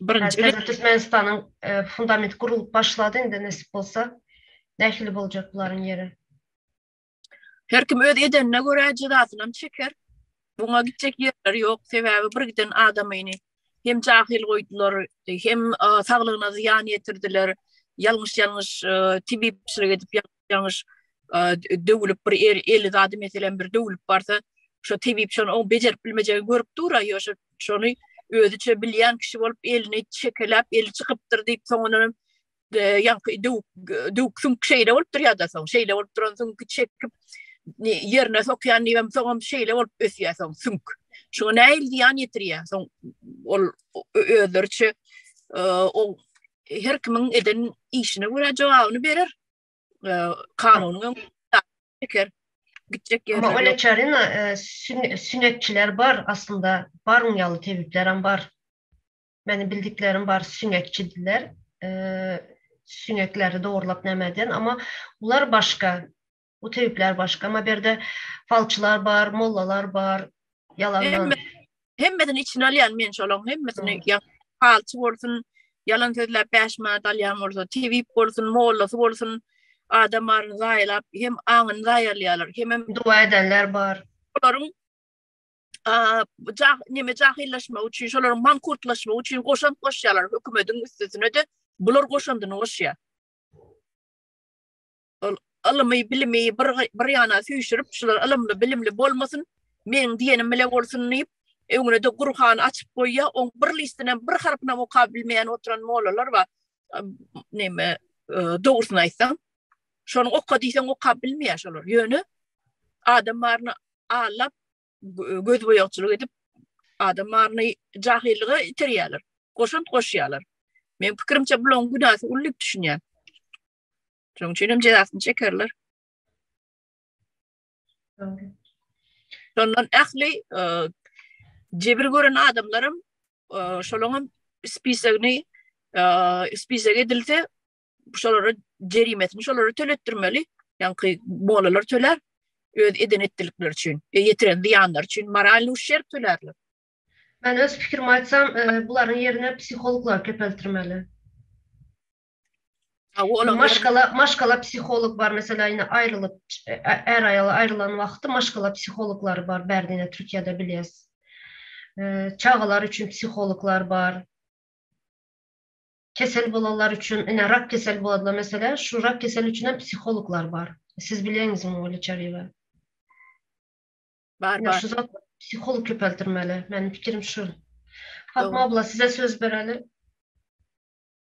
Speaker 1: Birinji gezek Türkmenistanyň e, fundament gurulyp başlady indi nesip bolsa. Nähili boljak bularyň ýeri?
Speaker 2: Her kim öz edenine görä jezasyny hem çeker. Buňa gitjek ýerleri ýok. Sebäbi bir giden adamyny hem jahil goýdular, hem e, saglygyna zyýan ýetirdiler. Ýalňyş-ýalňyş e, tibipçilik edip ýalňyş ýalňyş döwülip bir eli zady meselem bir döwülip barsa şo tebip şony o bejerip bilmejegi görüp dura ýoşa şony özüçe bilýän kişi bolup elini çekeläp eli çykypdyr diýip soňundan ýaňky döwük döwük süň şeýle bolupdyr ýa-da soň şeýle bolup duran süň çekip ýerine sokýan diýem soňam şeýle bolup ösýär soň süň şoňa näil ýan ýetirýär soň ol özleriçe o her kimiň eden işine görä jogabyny berer kanunyň öňüne çeker. Gitjek ýerler. Öňe çarina
Speaker 1: süňekçiler bar aslynda. Baryň ýaly tebipler hem bar. Meniň bildiklerim bar süňekçidiler. Süňekleri dogurlap näme eden, amma bular başga. Bu tebipler başga. Amma berde falçylar bar, mollalar bar. Ýalandan. Hemmesini
Speaker 2: içine alýan men şolaň hemmesini ýa palçy bolsun, ýalan sözläp 5 manat alýan bolsa, tebip bolsun, mollasy bolsun, adam aryny zaýalap, hem aňyny zaýalýarlar, hem hem dua edenler bar.
Speaker 1: Olaryň
Speaker 2: Jah neme jahillaşmak üçin şolar mankurtlaşmak üçin goşan goşýarlar hökümetiň üstüne de bular goşandyny goşýar. Ol ylmy, bilimi bir bir ýana süýşürip, şular ylymly, bilimli bolmasyn, meň diýenim bile bolsun diýip, öňüne-de Gurhan açyp goýýar, oň bir listinem, bir harpynam okap bilmeýän oturan mollalar bar. Näme, e, dogrusyny aýtsaň, şony oka diýseň okap bilmeýär şolar. Ýöne adam baryny allap, göz boýagçylyk edip, adam baryny jahyllyga iterýärler, goşant goşýarlar. Men pikirimçe bulaň günäsi uly düşünýän. Şonuň üçin hem jezasyny çekerler. Şondan ähli e, jebir gören adamlarym e, şolaryň hem spisagini e, spisag edilse şolara jerimesini şolara töletdirmeli. Ýaňky molalar töler öz eden etdilikleri üçin, e, ýetiren zyýanlar üçin moralny uşerp tölerler. Men öz
Speaker 1: pikirimi aýtsam, e, bularyň ýerine psihologlar köpeltirmeli. Maşgala, maşgala psiholog bar, meselä indi aýrylyp, är aýal aýrylan wagty maşgala psihologlary bar, bärdine Türkiýede bilýäs. Çagalar üçin psihologlar bar. Kesel bolanlar üçin, ine rak keseli bolanlar meselä, şu rak keseli üçin hem psihologlar bar. Siz bilýäňizmi ol içeriýi? Bar, bar.
Speaker 2: Şu zat psiholog
Speaker 1: köpeldirmeli. Meniň pikirim şu. Fatma abla, size söz bereli.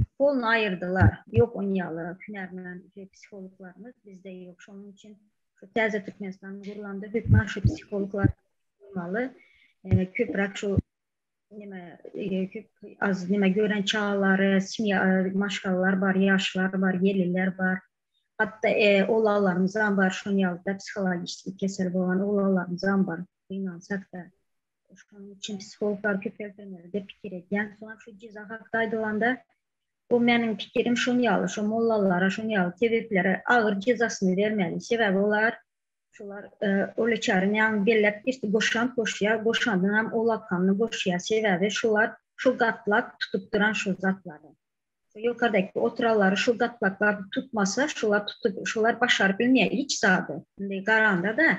Speaker 4: Psihologyny aýyrdylar. Ýok ony ýaly hünärmen psihologlarymyz bizde ýok. Şonuň üçin şu täze Türkmenistan gurlanda hökman şu psihologlar bolmaly. Köpräk şu nime az nime gören çagalary, semýa maşgalalar bar, ýaşlar bar, gelirler bar. Hatda oglanlarymyzam bar şoň ýaly psihologik kesel bolan oglanlarymyzam bar. Gynansak-da. Şonuň üçin psihologlar köpeldirmeli diýip pikir edýän. Soň şu jeza hakda aýdylanda, bu meniň pikirim şun ýaly, şu mollalara, şun ýaly tebiplere agyr jezasyny bermeli. Sebäbi olar, şular Olyçaryň ýaňy belläp geçdi, goşant goşýar, goşandyň hem o lakgamyny goşýar. Sebäbi şular şul gatlak tutup duran şul zatlary. Şu ýokardaky oturanlary şul gatlaklar tutmasa, şular tutup, şular başaryp bilmeýär hiç zady. Indi garanda-da,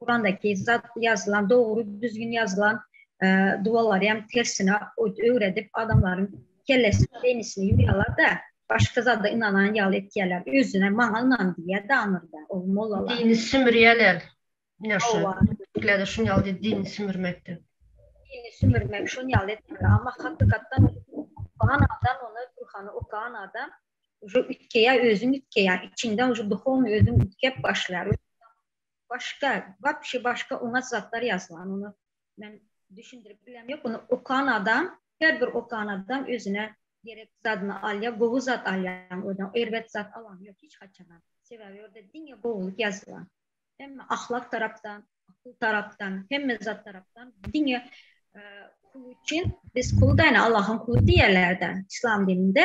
Speaker 4: Kurandaky zat ýazylan dogry düzgün ýazylan dualary hem tersine öwredip adamlaryň kellesini beýnisini ýuýýalar da başga zada ynanan ýaly etýäler özüne maňa ynan diýýä daňyrda ol mollalar. Dini sümürýäler
Speaker 1: ine şu türklerde şun ýaly dini sümürmekde. Dini
Speaker 4: sümürmek şun ýaly etmeli amma hakykatdan okan adam ony gurhany okan adam uje üýtgeýä özüň üýtgeýä içiňden uje duhownyý özüň üýtgep başlaýar. Başga, wapşe başga oňat zatlar ýazman, ony men düşündirip bilem ýok, ony okan adam, her bir okan adam özüne gerek zadyny alýar, gowy zat alýan özüne, erbet zat alan ýok hiç haçanam. Sebäbi ýerde diňe gowulyk ýazylan. Hemme ahlak tarapdan, akyl tarapdan, hemme zat tarapdan diňe kul üçin, biz kul-da ine Allahyň kuly diýerler-de yslam dininde,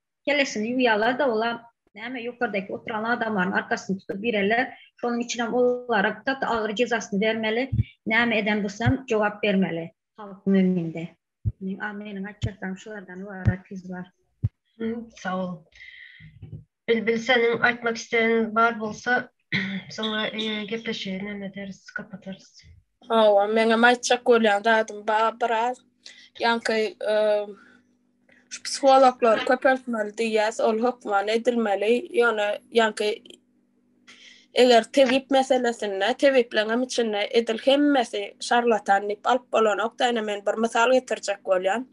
Speaker 4: kellesini ýuwýarlar-da, ola näme, ýokardaky oturan adamlaryň arkasyny tutup ireler. Şonuň üçinem olara gaty agyr jezasyny bermeli. Näme eden bolsam, jogap bermeli halkyň öňünde. Meň, meniň aýtjaklarym şulardan ybarat gyzlar. Sag
Speaker 1: bol. Bilbil seniň aýtmak isleýäniň bar bolsa, soňra gepleşigi näme ederis, gapadarys. Hawa, meňem
Speaker 3: aýtjak bolýan zadym bar biraz. Ýaňky Şu psihologlar köpeltmeli diýýäs, ol hökman edilmeli, ýöne ýaňky eger tebip meselesinde, tebipleriň hem içinde edil hemmesi şarlatan diýip alyp bolanokda, ine men bir mysal getirjek bolýan.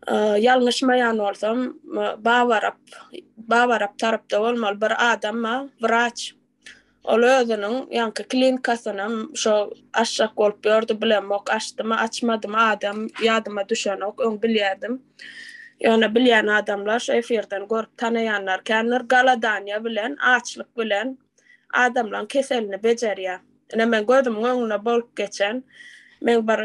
Speaker 3: Ýalňyşmaýan bolsam, Babarap, Babarap tarapda bolmaly bir adam bar, wraç, Ol özüniň ýaňky klinikasynam şo açjak bolup ýördi, bilemok, açdymy, açmadymy, adam ýadyma düşenok, öň bilýärdim. Ýöne bilýän adamlar, şu efirden görüp tanaýanlar kändir, goladaniýa bilen, açlyk bilen adamlaryň keselini bejerýär. Ine, men gözümiň öňünde bolup geçen, men bir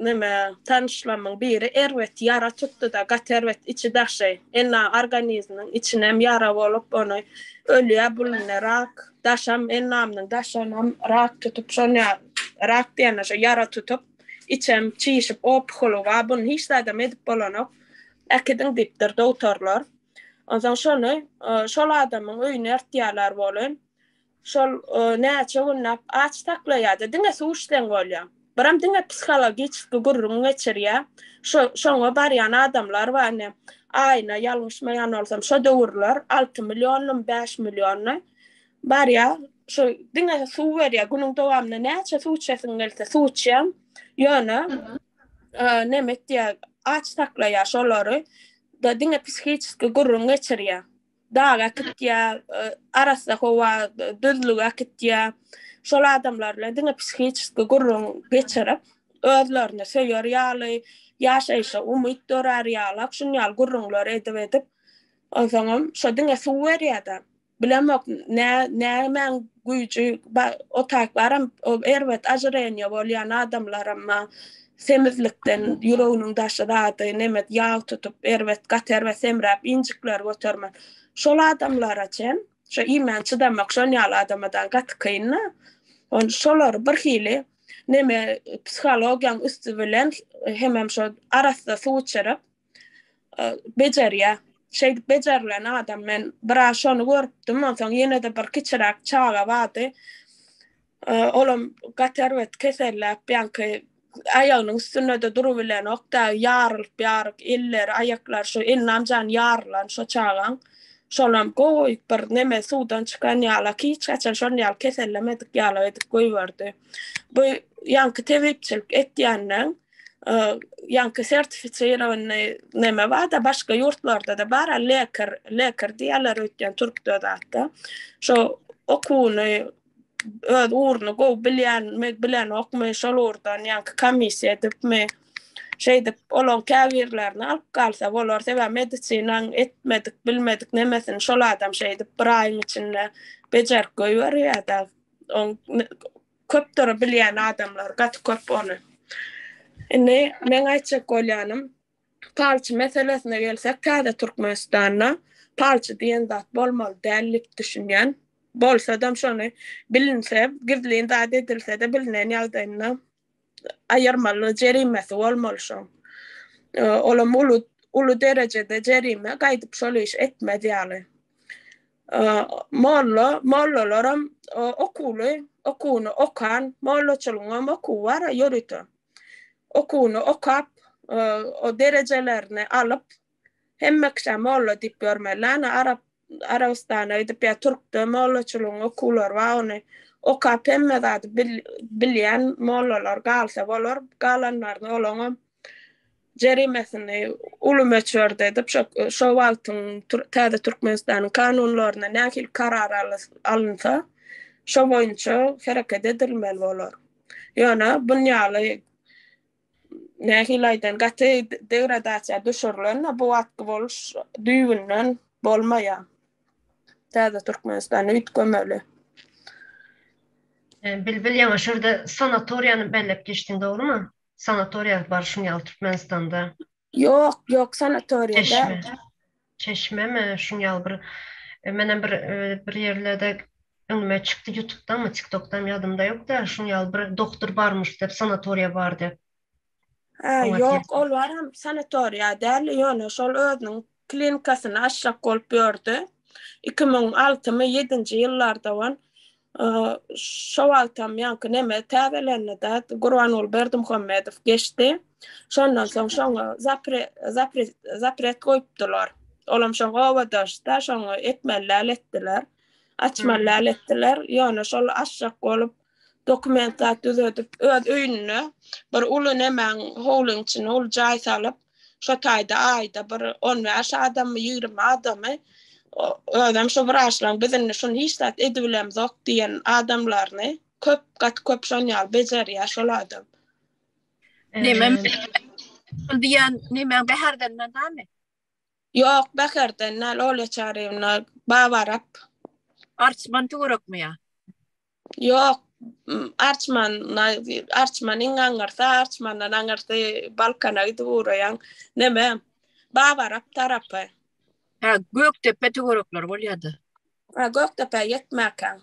Speaker 3: Neme, tanyşlamyň biri erbet ýara tutdy-da, gaty erbet, içi-daşy, enna organizminiň içinem ýara bolup, ony ölýä, bulunýa rak, daşam, ennamynyň daşynam rak tutup, şonýa rak diýende şo ýara tutup, içem çişip, opuholy bar, buny hiç zadam edip bolanok, äkidiň diýipdir dogtorlar. Onsoň şony şol adamyň öýüne ertýärler welin, Şol näçe günläp aç saklaýarda diňe suw içseň bolýa. Biram diňe psihologicki gürrüň geçirýä. Şo şoňa barýan adamlar bar ine. Aýyna ýalňyşmaýan bolsam şo döwürler alty millionmy bäş millionmy barýa. Şo diňe suw berýä. Günüň dowamynda näçe suw içesiň gelse suw içýäň. Ýöne neme etýä aç saklaýa şolary. Da diňe psihiçki gürrüň geçirýä. daga äkitýär, arassa howa düzlüge äkitýär. Şol adamlar bilen diňe psihiçeski gürrüň geçirip, özlerini söýer ýaly, ýaşaýşa umyt dörär ýalak, şun ýaly gürrüňler edip-edip, onsoňam şo diňe suw berýär-de. Bilemok, nä, nämäň güýji, bar, o taýplaram, o erbet ajyraýan ýa bolýan adamlaram bar. Semizlikden ýüreginiň daşy zady, nemes ýag tutup, erbet, gaty erbet semräp, injikleri götermän. Şol adamlara çen, şo iýmän çydamak şon ýaly adama dagy gaty kyn-da. On, şolary bir hili, neme, psihologiýaň üsti bilen hemem şo arassa suw içirip, bejerýä. Şeýdip bejerilen adam, men biraz şony görüpdim, onsoň ýene-de bir kiçiräk çaga bardy. Olam gaty erbet keselläp, ýaňky aýagynyň üstünde-de durubilenok-da, ýarylyp-ýaryk, elleri, aýaklary, şu elinem jan ýarylan şo çagaň. Şolam gowy bir neme suwdan çykan ýala, hiç haçan şonuň ýaly kesellemedik ýala edip goýberdi. Bu ýaňky tebipçilik etýänden, ýaňky sertifiçirowanyny neme bar-da, başga ýurtlarda-da bar, lekar, lekar diýýärler öýtýän türkde zatda. Şo okuwyny öz ugruny gowy bilýänmi, bilenokmy, şol ugurdan ýaňky komissiýa edipmi, şeýdip, olaň käbirlerini alyp galsa bolar. Sebäbi medisinanyň etmedik, bilmedik nemesini şol adam şeýdip bir aýyň içinde bejerip goýberýär-de. Oň köpdür bilýän adamlar, gaty köp ony. Indi meň aýtjak bolýanym, Palçy meselesine gelsek, täze Türkmenistanda palçy diýen zat bolmaly däl dip düşünýän. Bolsadam şony bilinse, gizlin zat edilsede bilinen ýagdaýynda aýyrmaly jerimesi bolmaly şoň. Olam uly uly derejede jerime gaýdyp şol iş etmez ýaly. Molla mollalaram okuwly, okuwyny okan, mollaçylygyňam okuwy bar-a ýörite. okuwyny okap, o derejelerini alyp, hemme kişä molla diýip ýörmeli, ana, arap, Arabystana gidip ýa türkde mollaçylygyň okuwlary bar, ony okap hemme zady bilýän mollalar galsa bolar, galanlaryny olaňam jerimesini uly möçberde edip, şo, şo wagtyň täze Türkmenistanyň kanunlarynda nähili karar alynsa, şo boýunça hereket edilmeli bolar. Ýöne bun ýaly nähili aýdan gaty degradasiýa düşürilende bu wagtky boluş düýbünden bolmaýar. Täze Türkmenistany üýtgemeli. Bilbil ýaňa şurda
Speaker 1: sanatoriýany belläp geçdiň dogrymy? Sanatoriýa barşyň ýaly Türkmenistanda. Ýok, ýok
Speaker 3: sanatoriýa däl. Çeşme.
Speaker 1: Çeşmemi şuň ýaly bir e, menem bir e, bir ýerlerde öňüme çykdy YouTube'danmy, TikTok'dan ýadymda ýok da şuň ýaly bir doktor barmyş dep, sanatoriýa bar dep. Ha, Oňa
Speaker 3: ýok, ol baram sanatoriýa däl, ýöne şol özüniň Klinikasyny açjak bolup ýördi. Iki müň altymy, ýedinji ýyllarda wan şo wagtam ýaňky neme täzelendida Gurbanguly Berdimuhamedow geçdi. Şondan soň şoňa zapret goýupdylar. Olam şoňa obadaşda şoňa etmeli däl etdiler. Açmaly däl etdiler. Ýöne şol açjak bolup Dokument zat düzedip, öz öýünde bir uly nemäň howlyň içine uly jaý salyp, şo taýda aýda bir on bäş adamy, ýigrimi adamy, özem şu wraçlaň biz indi şuny hiç zat edibilemzok diýen adamlaryny köp, gaty köp şon ýaly bejerýär şol adam.
Speaker 2: Neme şul diýen
Speaker 3: nemäň bäherden dämi? Ýok, bäherden däl, Olýa Çaryýewna, Babarap.
Speaker 2: Arçman töwerekmi ýa?
Speaker 3: Ýok, arçman, arçman iň aňyrsy, arçmandan aňyrsy Balkana gidip ugraýan. Neme? Babarap tarapy. Ha,
Speaker 2: Gökdepe töwerekleri bolýardy. Ha, Gökdepe
Speaker 3: ýetmäkäň.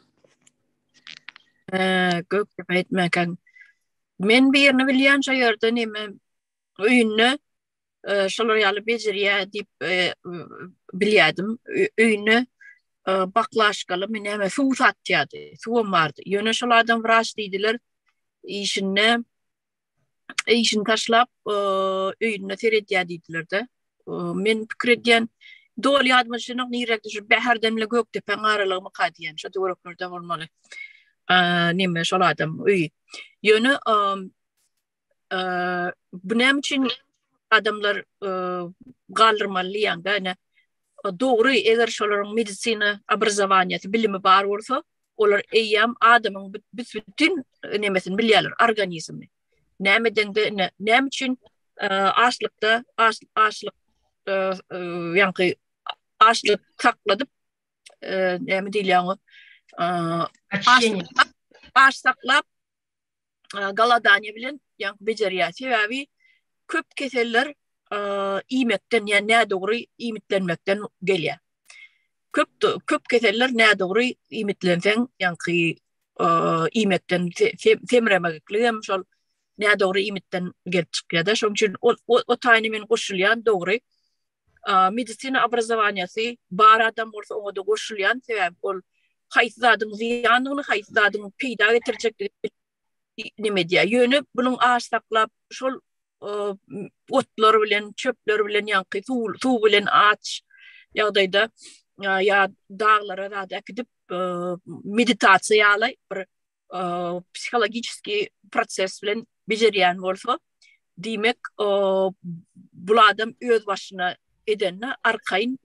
Speaker 3: Ha,
Speaker 2: Gökdepe ýetmäkäň. Men birini bilýän şo ýerde neme öýünde şolar ýaly bejerýär diýip bilýärdim. Öýüne baklaşkaly men näme suw satýardy. Suwum bardy. Ýöne şol adam wraç diýdiler. Işinde işini taşlap öýünde seredýär diýdiler-de. Men pikir edýän doly ýadyma düşenok nirä düşüp bäherden bile gökdepäň aralygymy ka diýen şo töwereklerde bolmaly. Nime şol adam öýi. Ýöne bu näme üçin adamlar galdyrmaly ýa-da ine dogry eger şolaryň medisina obrazowaniýasy bilimi bar bolsa olar eýýäm adamyň bütin nemesini bilýärler organizmi näme dende ine näme üçin açlykda açlyk ýaňky açlyk sakladyp näme diýilýär oňa
Speaker 1: aç
Speaker 2: saklap galadaniýa bilen ýaňky bejerýär. Sebäbi köp keseller iýmekden, ýa nädogry iýmitlenmekden gelýär. Köp köp keseller nädogry iýmitlenseň, ýaňky iýmekden semremeklik hem şol nädogry iýmitden gelip çykýar-da. Şonuň üçin o taýyna men goşulýan dogry. Medisina obrazowaniýasy bar adam bolsa oňa-da goşulýan, sebäbi ol haýsy zadyň zyýandygyny, haýsy zadyň peýda getirjekdigini neme edýär. Ýöne bunuň aş saklap, şol otlar bilen, çöpler bilen, ýaňky suw bilen aç ýagdaýda ýa daglara zat äkidip, meditasiýa ýaly bir psihologiçeski proses bilen bejerýän bolsa, diýmek, bul adam öz başyna edende arkaýyn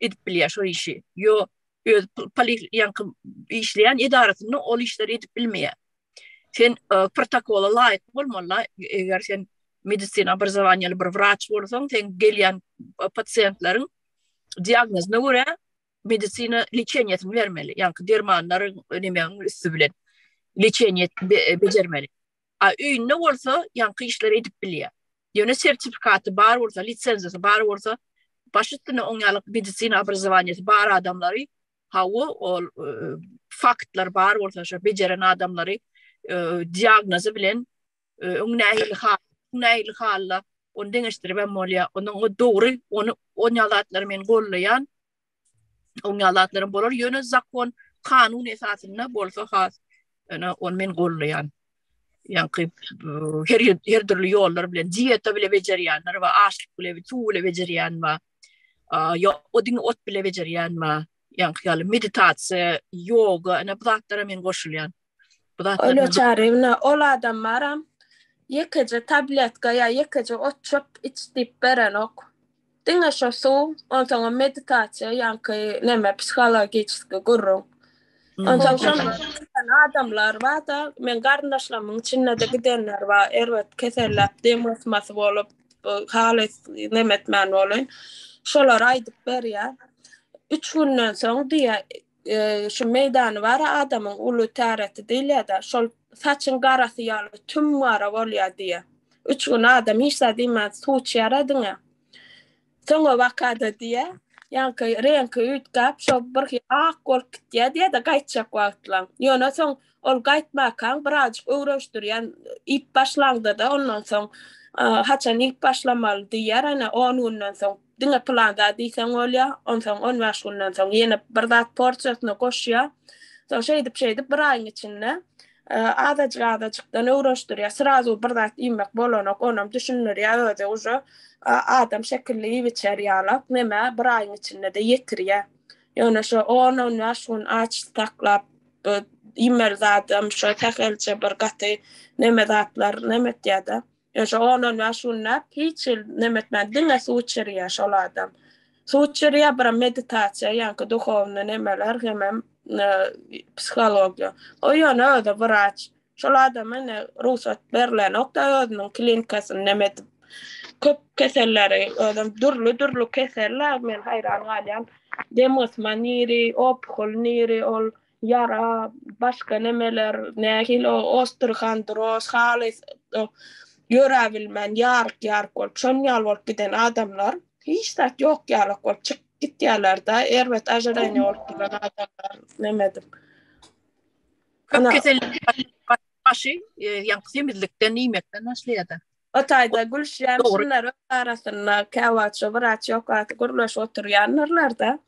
Speaker 2: edip bilýär şo işi. Ýo öz poliýanky işleýän edarasynda ol işleri edip bilmeýär. Sen protokola laýyk bolmaly, eger sen medisina obrazowaniýaly bir wraç bolsaň, sen gelýän pasiýentleriň diagnozyna görä, medisina leçeniýasyny bermeli, ýaňky dermanlaryň önemegiň üsti bilen leçeniýet bejermeli. A öýünde bolsa ýaňky işleri edip bilýär. Ýöne sertifikaty bar bolsa, lisenziýasy bar bolsa, baş üstüne oň ýaly medisina obrazowaniýasy bar adamlary, hawa, ol faktlar bar bolsa, şo bejeren adamlary diagnozy bilen Öň nähili hal, nähili halla ony deňeşdirip hem bolýar. Onuň o dogry, ony on ýalatlar men gollaýan. On ýalatlarym bolar, ýöne zakon, kanun esasynda bolsa has, ýöne on men gollaýan. Ýaňky her her dürli ýollar bilen diýeta bile bejerýänler we açlyk bile, suw bile bejerýän we ýa odin ot bile bejerýän we ýaňky ýaly meditasiýa, ýoga, ene bu zatlara men goşulýan. Bu zatlar Öyle bilen-
Speaker 3: çarewna ol adamlaram ýekeje tabletka ýa ýekeje otçuk iç diýip berenok. Diňe şo suw, onsoňam meditasiýa ýaňky neme psihologiçeskiý gürrüň. Hmm. Onsoň şoň giden adamlar bar-da, meň garyndaşlarymyň içinde-de gidenler bar, erbet keselläp, dem gysmasy bolup, bu halys nemetmän bolun. Şolar aýdyp berýär. Üç günden soň diýýär, şu meýdany bar adamyň uly täreti diýilýär-de, şol saçyň garasy ýaly tüm gara bolýar diýýär. Üç gün adam hiç zat iýmän suw içýär-ä diňe. Soňabaka-da diýýär, ýaňky reňki üýtgäp, şol birhili ak bolup gitýär diýýär-de gaýtjak wagtlaň. Ýöne soň ol gaýtmakaň birazajyk öwreşdirýän, iýip başlaňda-da ondan soň, haçan iýip başlamaly diýýär, ene, on günden soň Diňe pylan zat diýseň bolýar. Onsoň on bäş günden soň ýene bir zat porsiýasyna goşýar. Soň şeýdip-şeýdip bir aýyň içinde azajyk-azajykdan öwreşdirýär. Srazu bir zat iýmek bolanok. Onam düşündirýär özi uje adam şekilli iýip-içer ýalak. Nämä bir aýyň içinde-de ýetirýär. Ýöne şo on-on bäş gün aç saklap iýmeli zadam şo sähelçe bir gaty neme zatlar neme etýär-de. Ýa şo on-on bäş günläp hiç hil neme etmän diňe suw içirýä şol adam. Suw içirýä biram meditasiýa ýaňky duhownyý nemeler hemem psihologiýa. O ýöne özi wraç. Şol adama ine rugsat berlenokda özüniň klinikasyny neme edip köp keselleri özem dürli dürli kesellä men haýran galýan dem gysma niri opuhl niri ol Ýara, başga nemeler, nähili o ostrhan, dros, halys ýöräbilmän ýaryk-ýaryk bolup, şonuň ýaly bolup giden adamlar hiç zat ýok ýalak bolup çykyp gitýärler-de, erbet ažireniýa bolup duran adamlar neme edip.
Speaker 2: Köp kesellik başy ýaňky semizlikden iýmekden başlaýar-da. O taýda
Speaker 3: gülüşýän şunlar öz arasynda käwagt wraç ýokasy gürleşip oturýandyrlar-da,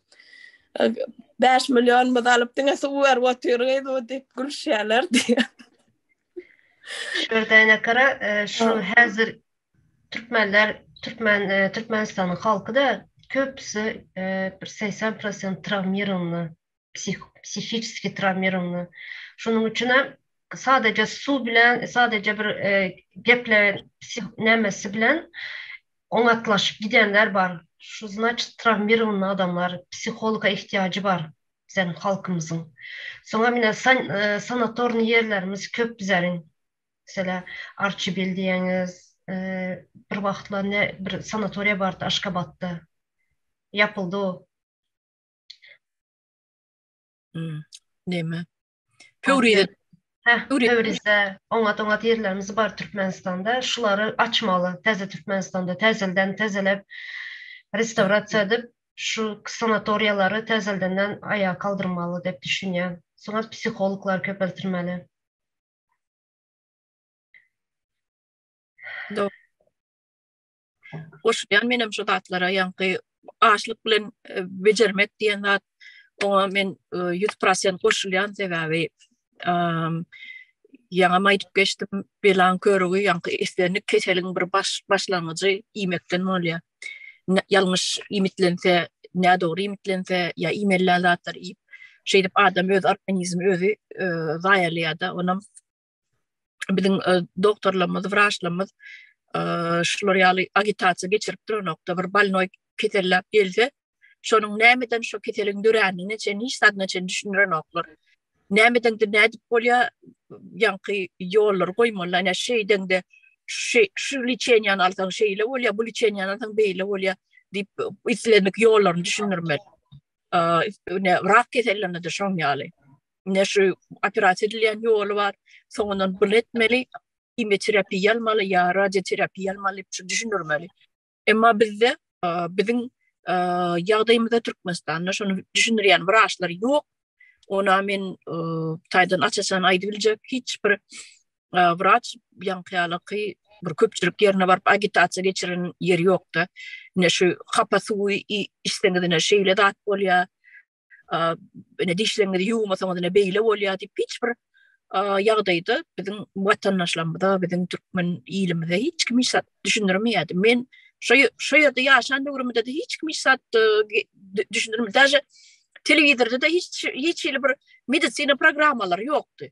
Speaker 3: Bäş millionymyzy alyp, diňe suw berip otyrgyz-u diýip gülüşýärler diýýär. Şöhradyýan
Speaker 1: akara, şu häzir türkmenler, türkmen, Türkmenistanyň halky-da köpüsi bir segsen prosent trawmirowna. psihiki trawmirowany. Şonuň üçin hem sadaja suw bilen, sadaja bir e, geple nämesi bilen oňatlaşyp gidenler bar. Şu значит trawmirowany adamlar psihologa ihtiýajy bar sen halkymyzyň. Soňa mine e, sanatorny ýerlerimiz köp bizäriň. Mesela Arçibil diýeniz, e, bir wagtlar ne bir sanatoriýa bardy Aşgabatda. Ýapyldy o. Hmm.
Speaker 2: Neme? Pöwrize. Heh, Pöwrize.
Speaker 1: Oňa doňa ýerlerimiz bar Türkmenistanda. Şulary açmaly. Täze Türkmenistanda täzelden täzelep restaurasiýa edip, şu sanatoriýalary täzeldenden aýa kaldyrmaly diýip düşünýän. Soňa psihologlar köpeltirmeli.
Speaker 2: Do. goşulýan menem şu zatlara ýaňky açlyk bilen e, bejermek diýen zat oňa men 100% e, goşulýan sebäbi ýaňa aýdyp geçdim belan körügi ýaňky islendik keseliň bir baş başlangyjy iýmekden bolýar ýalňyş iýmitlense nä dogry iýmitlense ýa iýmeli zatlar iýip şeýdip adam öz organizmi özi e, zaýalaýar-da onam biziň e, doktorlarymyz, wraçlarymyz e, şular ýaly agitasiýa geçirip duranokda bir bolnoý keselläp gelse, şonuň nämeden şu keseliň dörändigine çen hiç zadyna çen düşündirenoklar. Nämeden de nädip bolýar, ýaňky ýollar goýmaly, ýa şeýdende şu şu liçeniýany alsaň şeýle bolýar, bu liçeniýany alsaň beýle bolýar diýip islendik ýollaryny düşündirmeli. Ýa rak kesellerine de şoň ýaly. ne şu operasiýa edilýän ýoly bar, soňundan bunu etmeli, kimýoterapiýa almaly ýa radioterapiýa almaly diýip şu düşündirmeli. Emma bizde biziň ýagdaýymyzda Türkmenistanda şonu düşündirýän wraçlar ýok. Ona men taýdan açasan aýdyp biljek hiç bir wraç ýaňkyýalaky bir köpçülik ýerine baryp agitasiýa geçiren ýeri ýokda. Ne şu hapa suwy içseňiz ne şeýle zat bolýar. ene dişleňizi ýuwmasaňyz ene beýle bolýar diýip hiç bir ýagdaýda biziň watandaşlarymyza, biziň türkmen ilimize hiç kim hiç zat düşündirmeýärdi. Men şu şu ýerde ýaşan döwrümde de hiç kim hiç zat düşündirmeýärdi. Daže telewizorda da hiç hiç hili bir medisina programmalary ýokdy.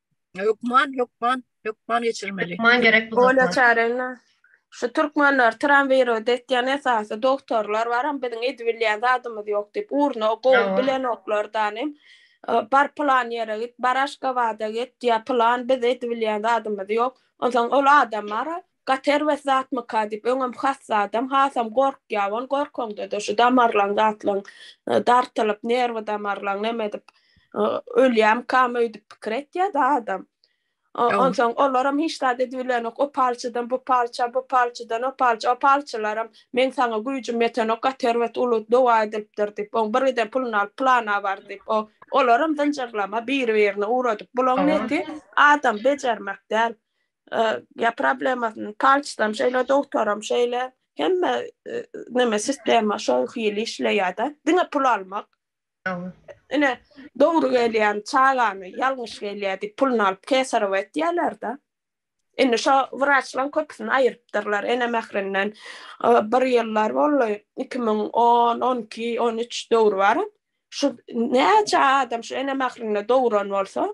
Speaker 1: Hökman, hökman,
Speaker 2: hökman geçirmeli. Hökman
Speaker 1: gerek bu dokma. Ola
Speaker 3: çarena. Şu türkmenler tramwiro detýän esasy dogtorlar baram biziň edibilýän zadymyz ýok diýip urna gowy bilenoklar danem bar plan ýere git bar aşgabada git ýa plan biz edibilýän zadymyz ýok onsoň ol adam bara Gaty erbet zatmyka diýip, öňem has zadam, hasam gorkýar ol. Gorkaňda-da şu damarlaň zatlaň dartylyp, nerwi damarlaň neme edip, ölýärmikam öýdüp pikir etýär-de adam. Onsoň olaram hiç zat edibilenok. O palçydan bu palça, bu palçydan o palça. O palçylaram, Meň saňa güýjüm ýetenok, gaty erbet uly dowa edilipdir diýip, oň birgiden puluny alyp plana bar diýip, o, olaram zynjyrlama, biri-birini ugradyp. Bulaň neti, adam bejermek däl. ya problemasyny palçdan şeýle dogtaram şeýle hemme neme sistema şol hili işleýärde diňe pul almak ine dogry gelýän çagany ýalňyş gelýär diýip puluny alyp kesarow etýärlerde indi şo wraçlaň köpüsini aýrypdyrlar ene mährinden bir ýyllar boldy iki müň on on iki on üç döwri bar şu näçe adam şu ene mährinde dogran bolsa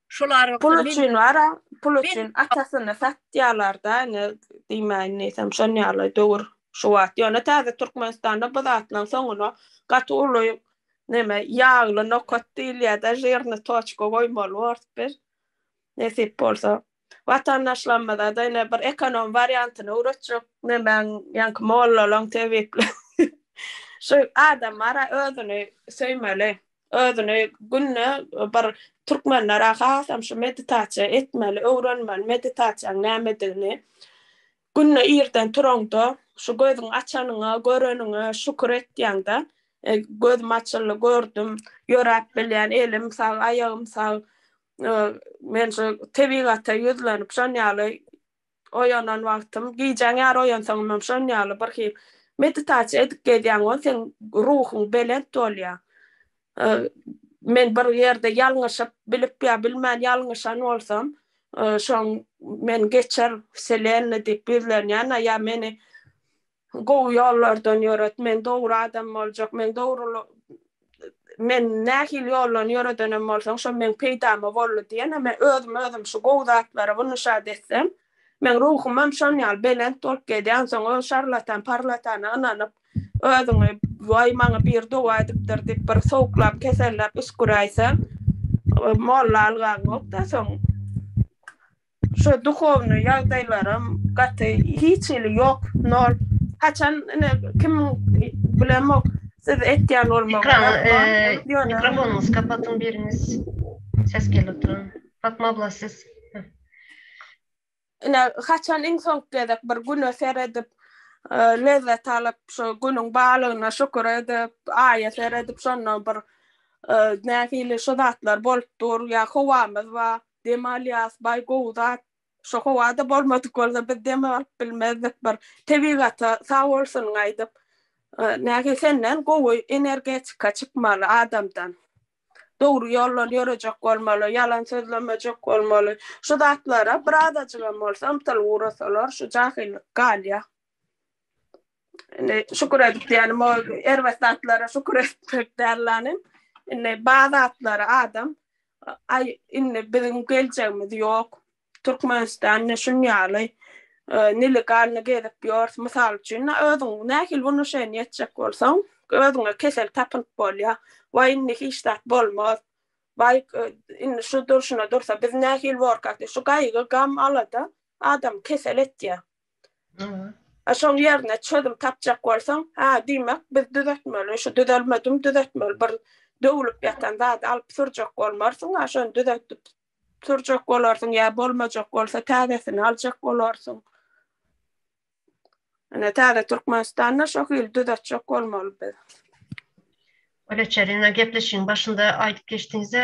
Speaker 2: Şolar Pul üçin wara,
Speaker 3: pul üçin atasyny satýarlar-da, ine, diýmäýin neýsem, şon ýaly döwür şu wagt. Ýöne täze Türkmenistanda bu zatlaryň soňuna gaty uly neme, ýagly nokat diýilýär-de, žirnyý toçka goýmaly bors biz, nesip bolsa. Watandaşlarymyza-da ine bir ekonom wariantyny öwretjek nemäň, ýaňky mollalaň, tebiplaň. Şu adam ara özüni söýmeli. özüni günde bir türkmenlere hasam şu meditasiýa etmeli, öwrenmeli meditasiýaň nämedigini. Günde irden turaňda, şu gözüňi açanyňa, göreniňe şükür etýäňde, gözüm açyldy, gördüm, ýöräp bilýän, elim sag, aýagym sag, men şu tebigata ýüzlenip, şon ýaly oýanan wagtym, gijäň ýary oýansaňam şon ýaly birhili meditasiýa edip gezýäň we seň ruhuň belent bolýar. Men bir ýerde ýalňyşyp, bilip ýa bilmän ýalňyşan bolsam, şoň meni geçir, Wselenna diýip ýüzlenýän, ýa meni Gowy ýollardan ýöret, men dogry adam boljak, men dogry men nähili ýoldan ýöredenem bolsaň, şo meň peýdama boldy diýen, men özüme özüm şu gowy zatlary bu nüşat etsem, meň ruhumam şon ýaly belent bolup gelýär, onsoň öz şarlatan parlatana ynanyp, özüňi waý maňa biri dowa edipdir diýip bir sowuklap keselläp üsgüräýseň, molla algaňok-da soň. Şo duhownyý ýagdaýlaram gaty hiç hili ýok nol haçan ine kimiň bilemok siz etýän bolmagy mikrofonyňyzy kapatyň biriňiz ses gelip duran Fatma abla
Speaker 1: siz ine
Speaker 3: haçan iň soňky gezek bir güne seredip lezzet alyp şo günüň barlygyna şükür edip aýa seredip şonda bir nähili şu zatlar bolup dur ýa howamyz bar Dem alýas baý gowy zat. Şu howada bolmadyk bolsa biz dem alyp bilmezdik bir tebigata sag bolsun aýdyp. Näge senden gowy energetika çykmaly adamdan. Dogry ýoldan ýörejek bolmaly, ýalan sözlemejek bolmaly. Şu zatlara birazajygam bolsa ymtylyp ugrasalar şu jahyllyk galýa. Indi şükür edip diýenim o erbet zatlara şükür etmek dällany. Indi bazı zatlara adam ay indi biziň geljegimiz ýok. Türkmenistanda şun ýaly nelegalny gezip ýörs. Mysal üçin, özüň nähili wnuşeniýa etjek bolsaň, özüňe kesel tapylyp bolýar. Waý indi hiç zat bolmaz. Waý indi şu durşuna dursa biz nähili borkak diýip şu gaýgy, gam, alada adamy kesel etýär. A şoň ýerine çözüm tapjak bolsaň, ha diýmek biz düzetmeli, şu düzelmedim düzetmeli bir döwlüp ýatan zady alyp sürjek bolmarsyň, a şony düzetdip sürjek bolarsyň ýa bolmajak bolsa täzesini aljak bolarsyň. Ine täze Türkmenistanda şo hili düzetjek bolmaly biz. Ol eçer
Speaker 1: ine gepleşigiň başynda aýdyp geçdiňizde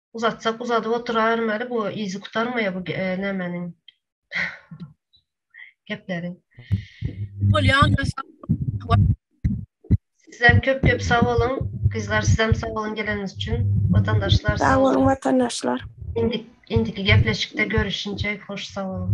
Speaker 1: Uzatsak uzadyp oturarym eli bu yzy gutarmaýa bu nämeniň gepleri. Bolýan Sizem köp köp sag boluň. Gyzlar sizem sag boluň geleniňiz üçin. Watandaşlar sag boluň. Watandaşlar. Indi indiki gepleşikde görüşinçe
Speaker 3: hoş
Speaker 1: sag boluň.